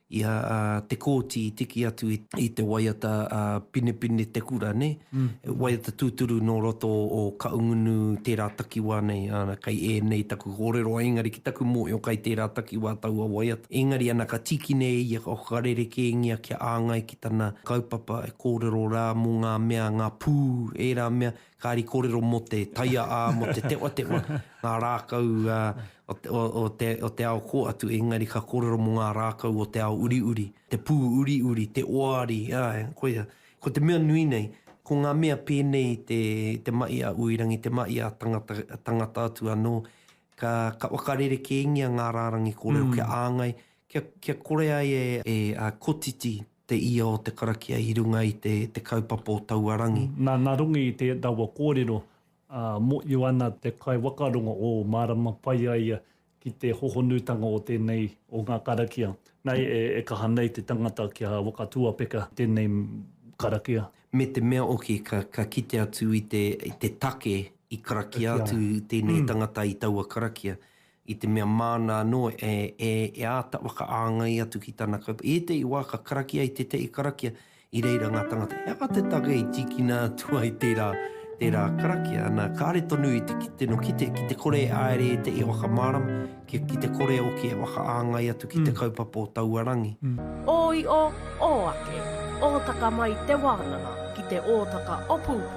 i a Te Kooti i tiki atu i te waiata a Pinepine Te Kura nei, waiata tūturu nō roto o Kaungunu tērā takiwā nei, ana kei ēnei taku kōrero ai engari ki taku mōhio kai tērā takiwā taua waiata. Engari ana ka tīkine e ia ka whakarerekēngia kia āngai ki tana kaupapa e kōrero rā mō ngā mea, ngā pū, ērā mea Kāri kōrero mō te taia ā, mō te tewatewa, ngā rākau o te ao kō atu, engari ka kōrero mō ngā rākau o te ao uriuri, te pū uriuri, te oari, āe, koia. Ko te mea nui nei, ko ngā mea pēnei i te mahi a Uirangi, te mahi a tangata atu anō, ka whakarerekēngia ngā rārangi kōrero kia āngai, kia kore ai e kotiti te ia o te karakia i runga i te te kaupapa o taua rangi. Na, na runga i te rawa korero, a, moio ana te kaiwakarongo o marama pai a ia ki te hohonutanga o tenei o nga karakia. Na, e, e kaha nei te tangata kia wakatuapeka tenei karakia. Me te mea oki ka, ka kite atu i te, i te take i karakia atu tenei tangata i taua karakia. i te mea māna anō e āta whakaāngai atu ki tana kaupapa. I ētehi wā ka karakia i tētehi karakia i reira ngā tāngata he aha te take i tīkina atu ai tērā, tērā karakia. Nā, kāre tonu i te kite nō kite, ki te kore e āere ētehi e whakamārama, ki, ki te kore hoki e whakaāngai atu ki te kaupapa o taua rangi. Ōio, ō ake, ōtaka mai te wānanga ki te ōtaka opūpū.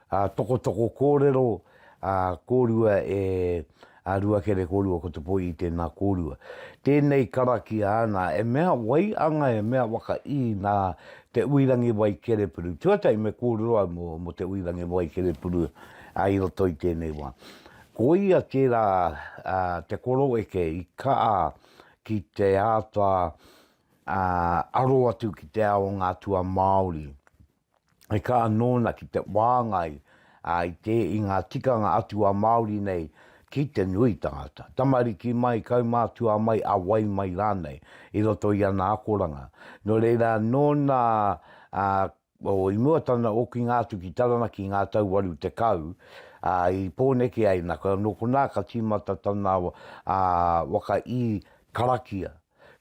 Ā, tokotoko kōrero, ā, kōrua e, ā, rua kere kōrua ko te poi i tēnā kōrua. Tēnei karakia ana, e mea waianga, e mea waka i nā Te Uirangiwai Kerepuru. Tuatahi me kōrero au mō, mō Te Uirangiwai Kerepuru, ā, i roto i tēnei wā. Ko ia tērā, ā, te koroeke i kaha ki te āta, ā, aro atu ki te ao o ngā atua Māori. e kā anō ana ki te wāngai i te i ngā tikanga atu a Māori nei ki te nui tangata, tamariki mai, kaumātua mai, a wai mai rānei, i roto i ana akoranga. Nō reira, nōna i mua tana okinga atu ki Taranaki i ngā tau waru tekau, i Pōneke ai nā, nō konā ka tīmata tana waka i karakia.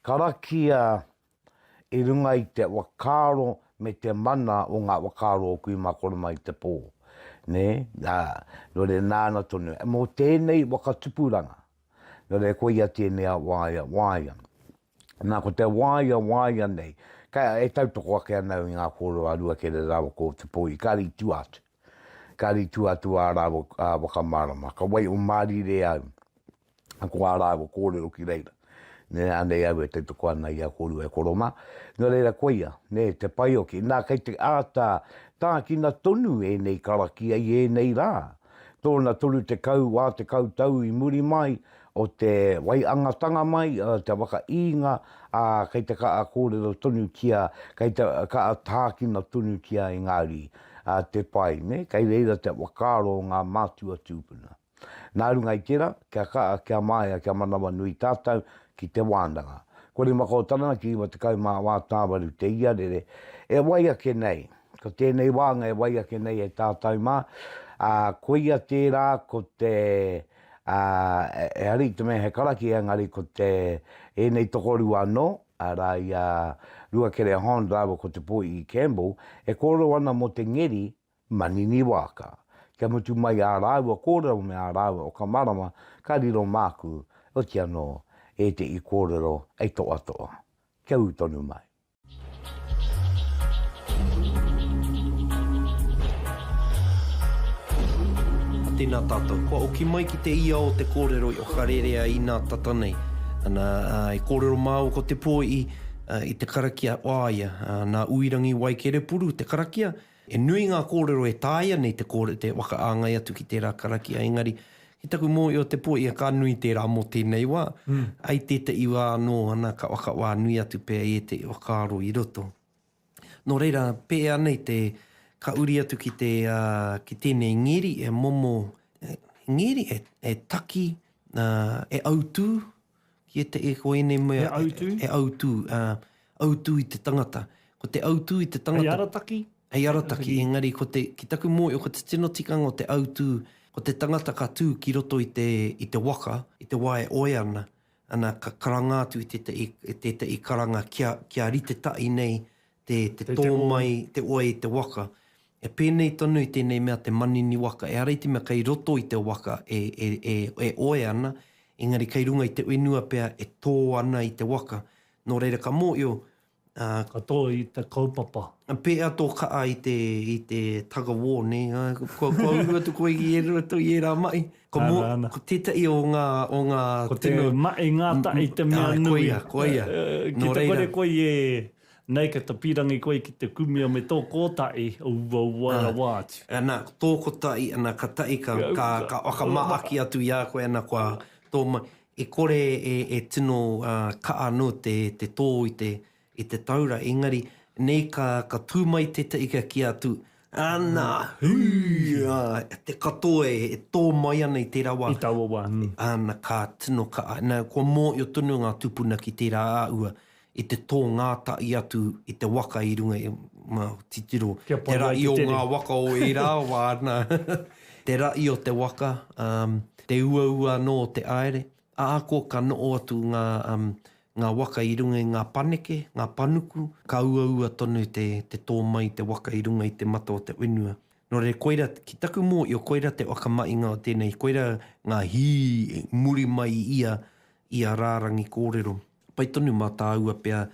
Karakia i runga i te whakaaro me te mana o ngā whakaaro o kui mā kore mai te pō. Nē, ā, nō reira nāna tonu, mō tēnei waka tupuranga, nō reira koia tēnei a waea waea. Nā, ko te waea waea nei, ka, e tautoko ake ana au i ngā kōrero a Ruakere rāua ko Te Pōi, ka ritua atu, ka ritua atu ā rāua whakamārama, ka wai o mārire au, ko ā rāua kōrero ki reira. Nē, anei au e tautoko ana i a kōrua e koromā. Nō reira, koia, nē, te pai o ki. Nā, kei te āta tākina tonu ēnei karakia i ēnei rā. Tōna 30 wā tekau tau i muri mai o te waiangatanga mai, te waka īnga, ā, kei te kaha kōrero tonutia, kei te kaha tākina tonutia e ngā uri. Te pai, nē, kei reira te whakaaro o ngā mātua tūpuna. Nā runga i tērā, kia kaha, kia māia, kia manawa nui tātou ki te wānanga. Ko rima kau tana ki iwa tekau mā wā tāwaru te iarere e wai ake nei. Ko tēnei wānga e wai ake nei e tātou mā, ā, koia tērā ko te, ā, he hari i te mea he karaki engari ko te, ēnei tokorua anō, arā i a Ruakere Hond rāua ko Te Poihi Campbell, e kōrero ana mō te ngeri Manini Waaka. Kia mutu mai ā rāua kōrero me ā rāua o ka marama ka riro māku, oti anō, ēteʻi kōrero e toʻatoʻa. Kia ū tonu mai. A tēnā tātou. Kua oki mai ki te ia o te kōrero i Okarērea inā tata nei. Ana, i kōrero māua ko Te Poiʻi i te karakia o a ia, nā Uirangi Waikerepuru te karakia, He nui ngā kōrero e tāia nei te kore, te whakaāngai atu ki tērā karakia, engari, ki taku mōhio te po ia ka nui tērā mō tēnei wā, ai tētahi wā anō ana ka whakawā nui atu pea i ētahi whakaaro i roto. Nō reira, pēhea nei te, ka uri atu ki te, ki tēnei ngeri e momo, ngeri e, e taki, e autū, Ki ētahi ko ēnei mea. He autū. He autū, ā, autū i te tangata. Ko te autū i te tangata. Hei arataki. Hei arataki, engari ko te, ki taku mōhio, ko te tino tikanga o te autū, ko te tangata ka tū ki roto i te, i te waka, i te wā e oe ana, ana ka karanga atu i tētahi, tētahi karanga kia, kia rite tahi nei te tō mai, te oi i te waka. E pēnei tonu i tēnei mea te manini waka, ehara i te mea kei roto i te waka e oe ana, engari kei runga i te whenua pea e tō ana i te waka. Nō reira ka mōhio. Ka tō i te kaupapa. Pēhea tō kaha i te tug of war, nē? Kua uru atu koe i roto i ērā mahi. Ko tētahi o ngā tino. Ko te mahi ngātahi te mea nui. Koia, koia. Ki te kore koe i Nei ka ta pirangi koe ki te kumia me to kotai o uaua rawa atu. Ana, to kotai, ana ka tai ka ka whakamaaki atu i a koe ana kua to ma, e kore e e tino ka ano te te to i te i te taura engari nei ka ka tu mai tetahi ka ki atu ana hui a te katoa e to mai ana i tera wa, i taua wa, ana ka tino ka, na kua mohio tonu nga tupuna ki tera a ua i te tō ngātahi atu i te waka i runga i ngā titiro, te rahi o ngā waka o ērā wā, nā, te rahi o te waka, te uaua anō o te aere, ā, ko ka noho atu ngā waka i runga i ngā paneke, ngā panuku, ka uaua tonu te tō mai i te waka i runga i te mata o te whenua. Nō reira, koirā, ki taku mōhio, koirā te whakamahinga o tēnei, koirā ngā hī muri mai i ia rārangi kōrero. pai tonu mā tāua pea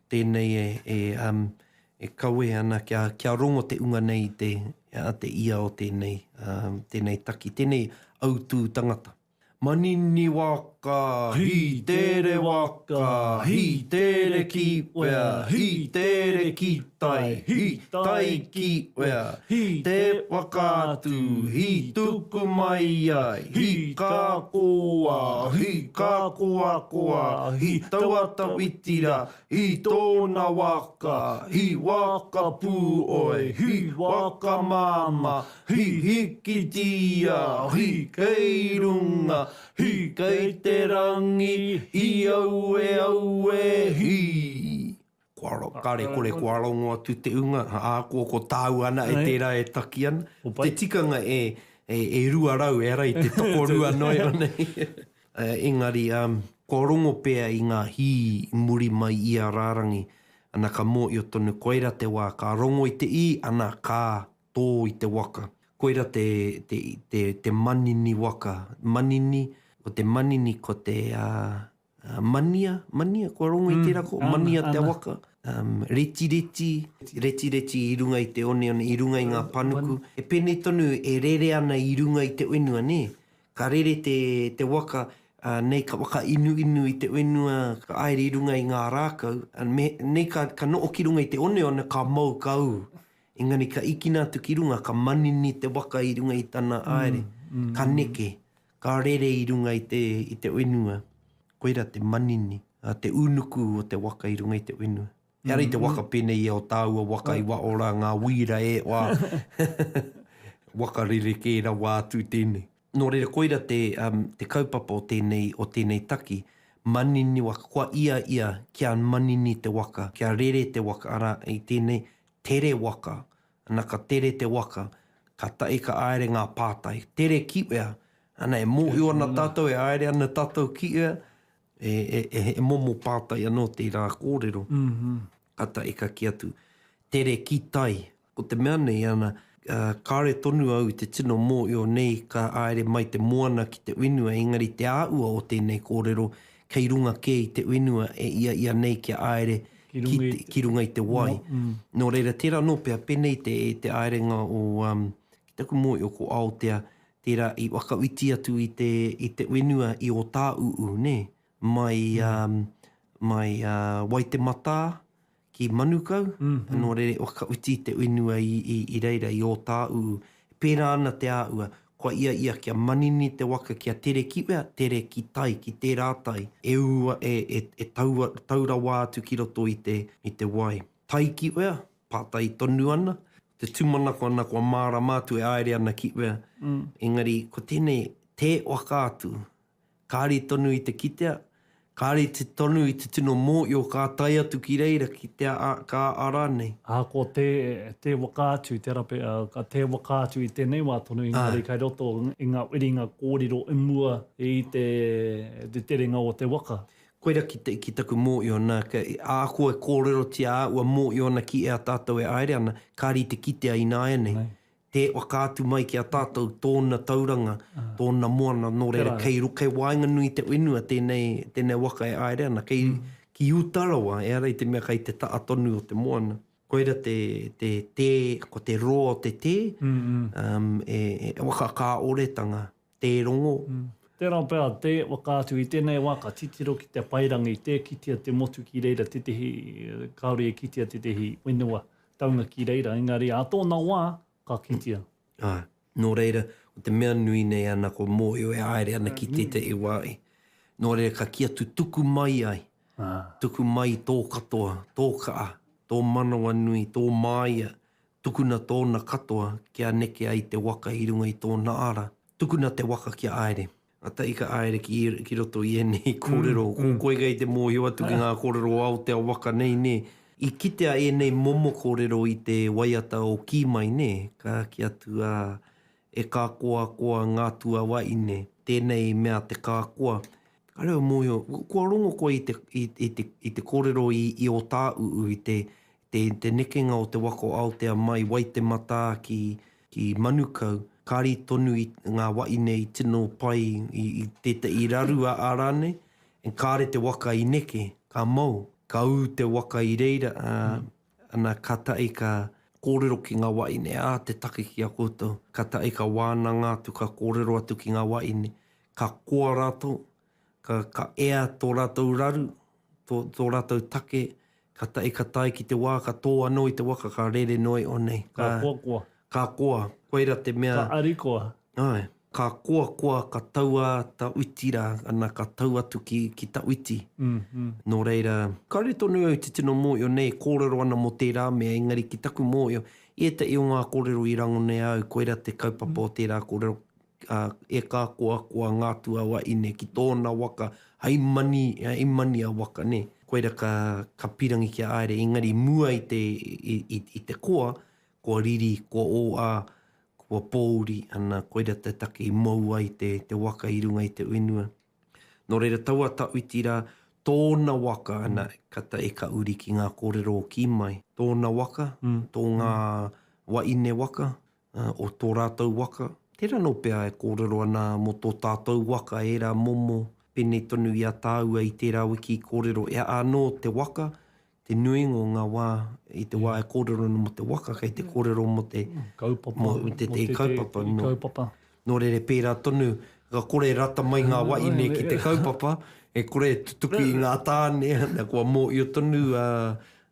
tēnei e kawe ana kia rongo te unga nei i te ia o tēnei taki, tēnei autū tangata. Manini waka, hī tere waka, hī tere kīwea, hī tere kīwea. tai hi, tai ki wea, hi te whakaatu, hi tuku mai ai, hi ka koa, hi ka koakoa, hi taua tawiti ra, hi tona waka, hi waka pu oe, hi waka mama, hi hikitia, hi kei runga, hi kei te rangi, hi aue aue, hi. Kare kore kua rongo atu te unga, ā, ko, ko tāu ana e tērā e taki ana. Te tikanga e, e, e rua rau, e ara i te tokorua noa iho nei. Engari, kua rongo pea i ngā hī i muri mai i a rārangi, ana ka mōhio tonu koira te wā ka rongo i te ī, ana ka tō i te waka. Koira te, te, te, te manini waka. Manini, ko te manini ko te, ā, Uh, mania, mania, kua rongo mm, i tērā ko, mania ana, te waka, um, reti reti, reti reti i runga i te one one, i runga i ngā panuku. E pēnei tonu e rere ana i runga i te wenua, nē? Ka rere te, te waka, uh, nei ka waka inu inu i te wenua, ka aere i runga i ngā rākau, uh, me, nei ka, ka noo ki runga i te one one, ka mau ka u. Engari ka ikina atu ki runga, ka manini te waka i runga i tana mm, aere, mm, mm, ka neke, Ka rere i runga i te, i te wenua. Koira te manini, a, te unuku o te waka i runga i te wenua. Ehara i te waka pēnei ia o tāua waka i wa ora ngā wīra e wa, waka rerekē rawa atu tēnei. Nō reira koira te, um, te kaupapa o tēnei, o tēnei taki, manini waka, kua ia ia kia manini te waka, kia rere te waka, arā, i tēnei, tere waka. Ana ka tere te waka, ka tae ka aere nga pātai, tere ki wea? Ana e mohio ana tatou e aere ana tatou ki wea, he momo pātai ano teira korero. Ka tae ka ki atu, tere ki tai. Ko te mea nei, ana, kare tonu au i te tino mohio nei ka aere mai te moana ki te whenua engari te aua o tenei korero kei runga kē i te whenua e ia ia nei kia āere ki runga i te wai. Nō reira, tērā anō pea, pēnei te te āerenga o, ki taku mōio ko Aotea, tērā i whakawhiti atu i te i te whenua i Ōtāuū, nē? Mai mai Waitematā ki Manukau, nō reira i whakauti te whenua i reira, i Ōtāuu. E pērā ana te āhua, kua ia ia kia manini te waka kia tere ki wea, tere ki tai, ki tērā tai, e ū, e tau rawa atu ki roto i te wai. Tai ki wea, pātai tonu ana, te tūmanako ana kua mārama atu e āere ana ki wea, engari ko tēnei, tē waka atu, Kāre tonu i te kitea, kāre tonu i te tino mōio ka tae atu ki reira ki te a, ka a rānei. Ā, ko te, te waka atu, te rape, ā, ka te waka atu i tēnei wā tonu, engari kei roto i ngā whiringa kōrero i mua i te, te terenga o te waka. Koira ki, ki taku mōio, nā, kei, ākua e kōrerotia ā ua mōio ana ki ea tātou e āere ana, kāre i te kitea ināianei. Tē whakaatu mai ki a tātou tōna tauranga, tōna moana nō reira kei ro, kei waenganui i te whenua tēnei, tēnei waka e aere ana, kei, ki uta rawa, ehara i te mea kei te taa tonu o te moana. Koira te, te tē, ko te roa o te tē, e, e waka kāoretanga. tē rongo. Tērā pea, tē whakaatu i tēnei wā ka titiro ki te paerangi, tē kitea te motu ki reira tētehi, kāore e kitea tētehi whenua taunga ki reira, engari ā tōna wā ka kitea. Āe. Nō reira, ko te mea nui nei ana ko mōhio e haere ana ki tētehi wāhi. Nō reira ka kī atu tuku mai ai, tuku mai tō katoa, tō kaa, tō manawanui, tō māia, Tukuna tōna katoa kia neke ai te waka i runga i tōna ara. Tukuna te waka ki a Aere. Ata i ka Aere ki ki roto i ēnei kōrero. Ko koe kei te mōhio atu ki ngā kōrero o Aotea waka nei, nē? I kitea ēnei momo kōrero i te waiata o Kī mai, nē? Ka kī atu a E ka koa koa ngā tuawaine, tēnei mea te ka koa. Ka reo mōhio, kua rongo koe i te i te i te kōrero i i Ōtāuu i te te nekenga o te waka o Aotea mai Waitematā ki Manukau, kari tonu i ngā waine i tino pai i tētahi, i rarua a rānei, and kāre te waka i neke, ka mau, ka ū te waka i reira, ā, ana ka tahi ka kōrero ki ngā waine, ā, te take ki a koutou, ka tahi ka wānanga atu, ka kōrero atu ki ngā waine, ka koa rātou, Ka, ka ea tō rātou raru, tō, tō rātou take, ka tae, ka tae ki te wā, ka tō anō i te waka, ka rere noi o nei. Ka, ka koa koa. Ka koa, koira te mea. Ka ari koa. Ai, ka koa koa, ka tau a ta uiti rā, ana ka tau atu ki, ki ta uiti. Mm, mm. Nō reira. Kāore tonu au te tino mōhio nei e kōrero ana mō tērā mea, engari ki taku mōhio, i ētahi o ngā kōrero i rangonea au, koira te kaupapa o tērā kōrero, e ka koakoa ngā tuawaine ki tōna waka hai mani, hai mani a waka, nē. Koira ka, ka pirangi kia aere, engari mua i te, i, i te koa, kua riri, kua ōā, kua pōuri, ana, koira te take i mou ai te, te waka i runga i te whenua. Nō reira, tau a Tawhiti rā, tōna waka, ana, ka ta, e ka uri ki ngā kōrero o Kīmai. Tōna waka, tō ngā waine waka, o tō rātou waka, tērā anō pea e kōrero ana mō tō tātou waka ērā momo, pēnei tonu i a tāua i tērā wiki i kōrero e a anō te waka, te nuinga o ngā wā i te wā e kōrero ana mō te waka kei te kōrero mō te kaupapa, mō tētahi kaupapa. Nō rere pērā tonu, ka kore e rata mai ngā wahine ki te kaupapa, e kore e tutuki i ngā tāne, na, kua mōhio tonu a,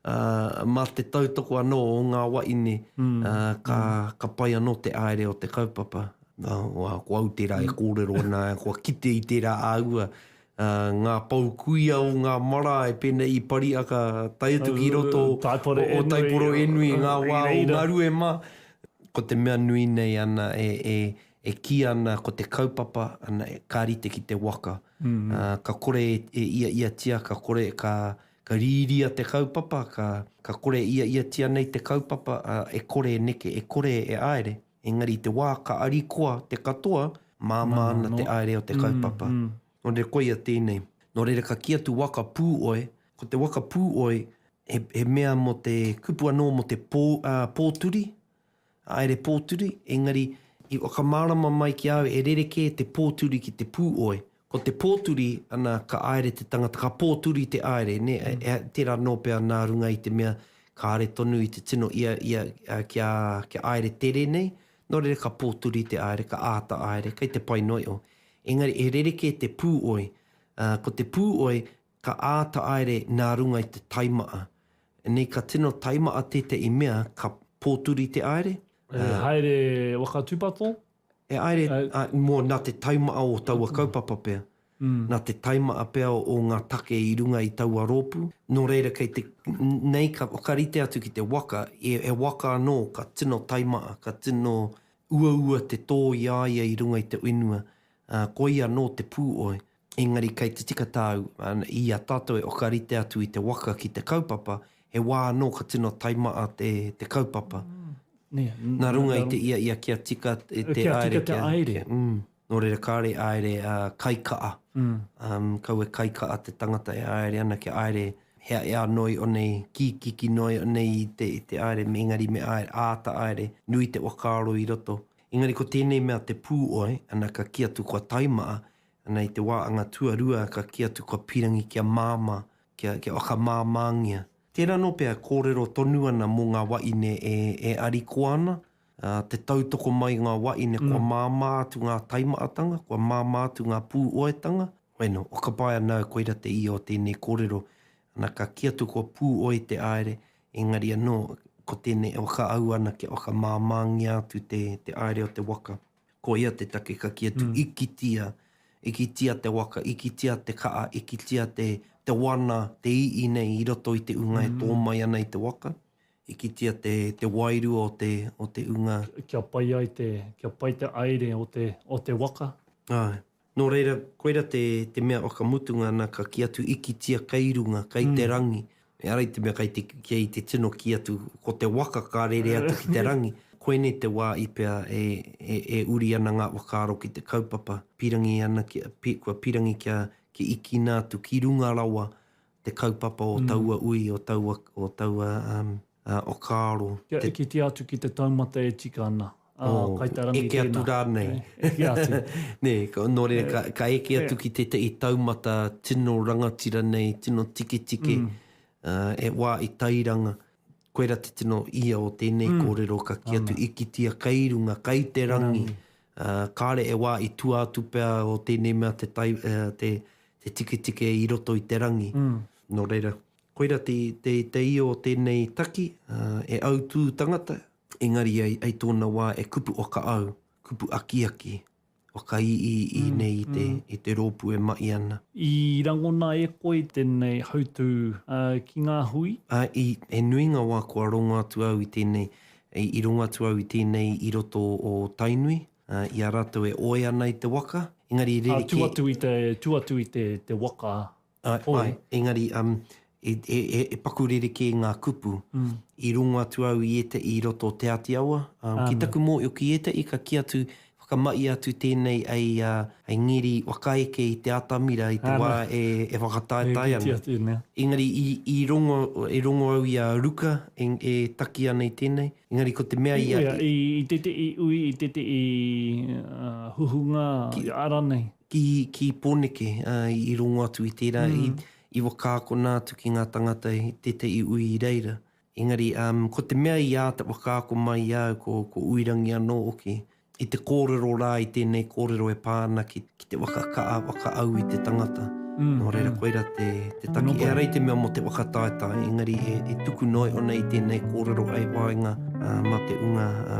a, mā te tautoko anō o ngā wahine, a, ka, ka pai anō te haere o te kaupapa. Nā, ko au tērā e kōrero ana, kua kite i tērā āhua, ngā pou kuia o ngā marae pēnei i Pariaka tae atu ki roto o Taiporoenui, ngā wā o Ngaruema, ko te mea nui nei ana e kī ana ko te kaupapa ana ka rite ki te waka. Ka kore e iaiatia, ka kore ka rīria te kaupapa, ka kore e iaiatia nei te kaupapa e kore e neke, e kore e āere. Engari i te wā ka arikoa te katoa, māmā ana te aerea o te kaupapa. Nō reira koia tēnei. Nō reira ka kī atu waka pūoe, ko te waka pūoe he mea mō te kupu anō mō te pōturi, haere pōturi, engari i whakamārama mai ki a au e rerekē te pōturi ki te pūoe. Ko te pōturi, ana, ka aere te tangata, ka pōturi te aere, ne, tera no pea na runga i te mea kare tonu i te tino ia, ia, kia, kia aere tere nei, no reira ka pōturi te aere, ka āta aere, kei te pai noio. Engari he rerekē te pūoi, a, ko te pūoi ka āta aere na runga i te taimaa. Nei ka tino taimaa tētei mea ka pōturi te aere, a. He haere waka tupato, He haere, mō, nā te taimaha o taua kaupapa pea, nā te taimaha pea o ngā take i runga i taua rōpū, nō reira kei te, nei ka whakarite atu ki te waka, he waka anō ka tino taimaha, ka tino uaua te tō i a ia i runga i te whenua, ā, koia anō te pū oi. Engari kei te tika tāu, i a tātou e whakarite atu i te waka ki te kaupapa, he wā anō ka tino taimaa te, te kaupapa. Nā runga i te ia ia kia tika te aere, kia, kia, mm, nō reira kāore e aere a kaikaa, um, kau e kaikaa te tangata e aere ana kia aere hea e anoi o nei, kikiki noi o nei i te, i te aere, engari me aere, aata aere, nui te wakaaro i roto. Engari ko tēnei mea te pū oe, ana ka kī atu kua taimaa, Ana i te wā anga tuarua ka kī atu kua pīrangi kia māmā, kia, kia whakamāmāngia. Tērā anō pea kōrero tonu ana mō ngā waʻine e, e arikoa ana, ā, te tautoko mai i ngā waʻine kua māmā atu ngā taimaʻatanga, kua māmā atu ngā pūoetanga. Hoi nō, whakapaea nāu koira te ia o tēnei kōrero, ana ka kī atu kua pūoe te aere, engari anō, ko tēnei e whakaau ana kia whakamāmāngia atu te, te aere o te waka. Koia te take ka kī atu, ikitia, ikitia te waka, ikitia te kaa, ikitia te, te wana, te ii nei i roto i te unga e tō mai ana i te waka, ikitia te, te wairua o te, o te unga. Kia pai ai te, kia pai te aere o te, o te waka. Ae. Nō reira, koira te, te mea o ka mutunga nā ka kī atu ikitia kei runga, kei te rangi. Ehara i te mea kei te, kei te tino kī atu ko te waka ka rere atu ki te rangi. Koinei te wā i pea e, e, e uri ana ngā whakaaro ki te kaupapa. Pīrangi ana ki, pi, kua pīrangi kia, kia ikina atu ki runga rawa te kaupapa o taua ui, o taua, o taua, um, o Kaaro. Kia eketia atu ki te taumata e tika ana. Oh, eke atu rānei. Eke atu. Nē, nō reira, ka eke atu ki tētahi taumata tino rangatira nei, tino tiketike, e wā i Tairanga. Koira te tino ia o tēnei kōrero, ka kī atu, i kitea kei runga, kei te rangi. Kāre e wā i tua atu pea o tēnei mea te tiketike i roto i te rangi. Nō reira, Koira te teitei o tēnei taki, e autū tangata, engari ai tōna wā e kupu whakaau, kupu akiaki, whakaiiii nei i te rōpū e mahi ana. I rangona e koe tēnei hautū ki ngā hui? Āe, he nui ngā wā kua rongo atu au i tēnei, i rongo atu au i tēnei i roto o Tainui, i a rātou e ōea ana i te waka, engari rerekē. Ā, tū atu i te waka, Āe, engari e paku rerekē ngā kupu i rongo atu au i ētahi i roto o Te Āti Awa. Ki taku mōhio, ki ētahi ka kī atu, whakamahia atu tēnei hei ngeri whakaeke i te atamira i te wā e whakataetae ana. Engari i rongo, e rongo au i a Ruka e taki ana i tēnei, engari ko te mea i a. I tētahi ui, i tētahi huhunga i a rānei. Ki, ki Poneke, ā, i rongo atu i tērā, i, i whakaakona atu ki ngā tangata i tētahi ui i reira. Engari, ā, ko te mea i āta whakaako mai i a au, ko, ko Uirangi anō hoki, i te kōrero rā, i tēnei kōrero e pā ana ki, ki te whakakaha, whakaau i te tangata. Nō reira, koirā te, te taki. Ehara i te mea mō te whakataetae, engari e, e tuku noa ana i tēnei kōrero hei whāinga, ā, mā te ūnga, ā,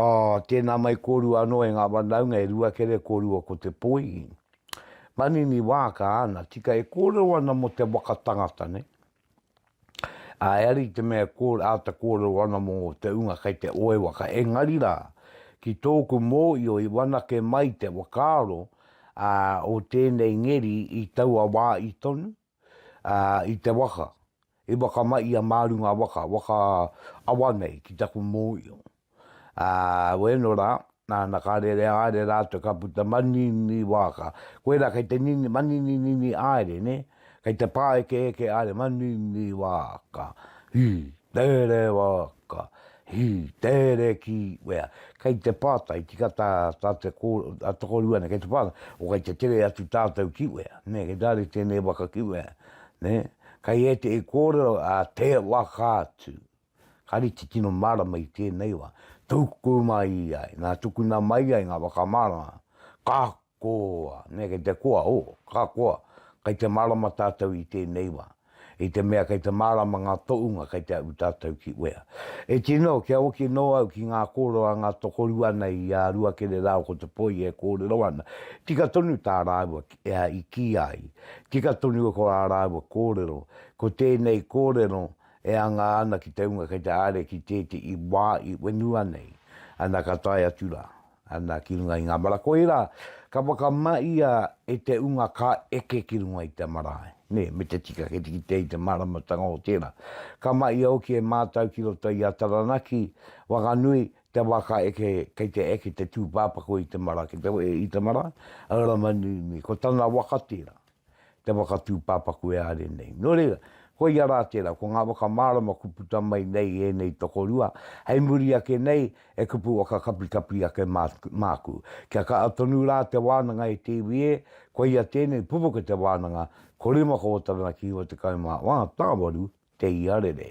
Ā, tēnā mai kōrua anō e ngā whanaunga e Ruakere kōrua ko Te Poi. Manini Waaka, Ana, tika e kōrero ana mō te waka tangata nei. Ā, e ari te mea e āta kōrero ana mō te ūnga kei te oe waka, engari rā, ki tōku mōio i whanake mai te whakaaro, ā, o tēnei ngeri i taua wā i tonu. ā, i te waka, i whakamaia mā runga waka, waka awa nei ki taku mōio. Ā, wēno rā, nāna ka rere haere rātou ka puta manini wāka. Koirā kei te nini, manininini haere, nē, kei te pāekeeke haere, manini wāka, hī, tērē wāka. Hi, Tere ki, wea, kei te pātai, tika tā, tā te kō, a tokorua nei, kei te pātai, o kei te tere atu tātou ki wea, nē, kei tā re tēnei waka ki wea, nē, kei ētehi kōrero a te waka atu, ka rite tino mārama i tēnei wā, tuku mai ai, nā, tukuna mai ai ngā whakamārama, ka Koa, me kei te koa, o, ka koa, kei te mārama tātou i tēnei wā, i te mea kei te mārama ngā toʻunga kei te aʻu tātou ki uea. E tino, kia hoki nō au ki ngā kōrero a ngā tokorua nei i a Ruakere rāua ko Te Poi e kōrero ana, tika tonu tā rāua i kī ai, tika tonu ko ā rāua kōrero, ko tēnei kōrero e anga ana ki te hunga kei te haere ki tēteʻi wā i whenua nei, ana ka tae atu rā. Ana ki runga i ngā mara koirā ka whakamahia e te unga ka eke ki runga i te marae, nē, me te tika kei te kitea i te māramatanga o tērā. Ka mahia hoki e mātau ki roto i a Taranaki, Whanganui, te wā ka eke, kei te eke te tūpāpaku i te marae, kei te wehe i te marae, Ramanui me ko tana waka tērā. te whakatūpāpaku e are nei. Nō reira, koia rā tērā, ko ngā whakamārama kua puta mai nei ēnei tokorua, hei muri ake nei e kupu whakakapikapi ake māku. Kia kaha tonu rā te wānanga e te iwi ē, koia tēnei, pupuke te wānanga, ko rima ko ō tangata ki 91, tāwaru te iarere.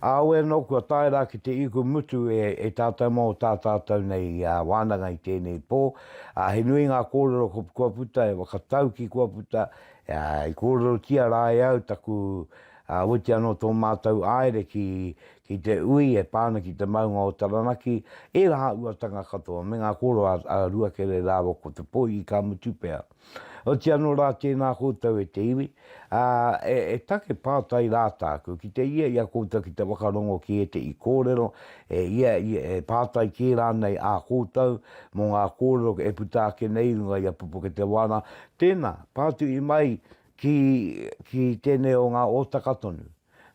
Aue anō kua tae rā ki te iku mutu e tātou mō tā tātou nei wānanga i tēnei pō, ā, he nui ngā kōrero kua puta, he whakataukī kua puta, ā, i kōrerotia rā e au taku, ā, oiti anō tō mātou āere ki, ki te ui e pā ana ki te maunga o Taranaki, ērā uatanga katoa me ngā kōrero a Ruakere rāua ko Te Poihi ka mutu pea. Oti anō rā tēnā koutou e te iwi, ā, e, e take pātai rā tāku, ki te ia i a koutou ki te whakarongo ki ētehi kōrero, e, ia, ia, e pātai kē rānei ā koutou mō ngā kōrero e puta ake nei i runga i a Pupuketewāna, tēnā, pātuhi mai, ki, ki tēnei o ngā Ōtaka tonu.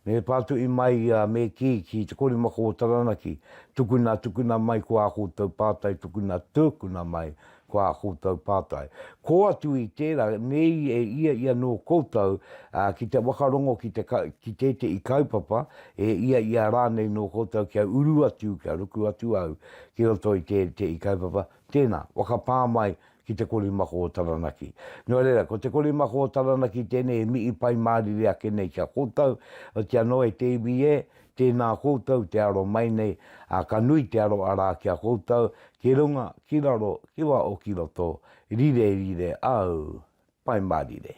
Me pātuī mai ia me kī ki te korimako o Taranaki, tukuna, tukuna mai ko ā koutou pātai, tukuna, tukuna mai ko ā koutou pātai. Kō atu i tērā, nei e ia i anō koutou ki te whakarongo ki te, ki tētehi kaupapa, e ia i a rānei nō koutou kia uru atu, kia ruku atu au ki roto i tētehi kaupapa, tēnā, whakapā mai ki te korimako o Taranaki. Nō reira, ko te korimako o Taranaki tēnei e mihi pai mārire ake nei ki a koutou, otiia anō e te iwi ē, tēnā koutou te aro mai nei, ā, ka nui te aro arā ki a koutou, ki runga, ki raro, ki waho, ki roto, rire, rire, au, pai mārire.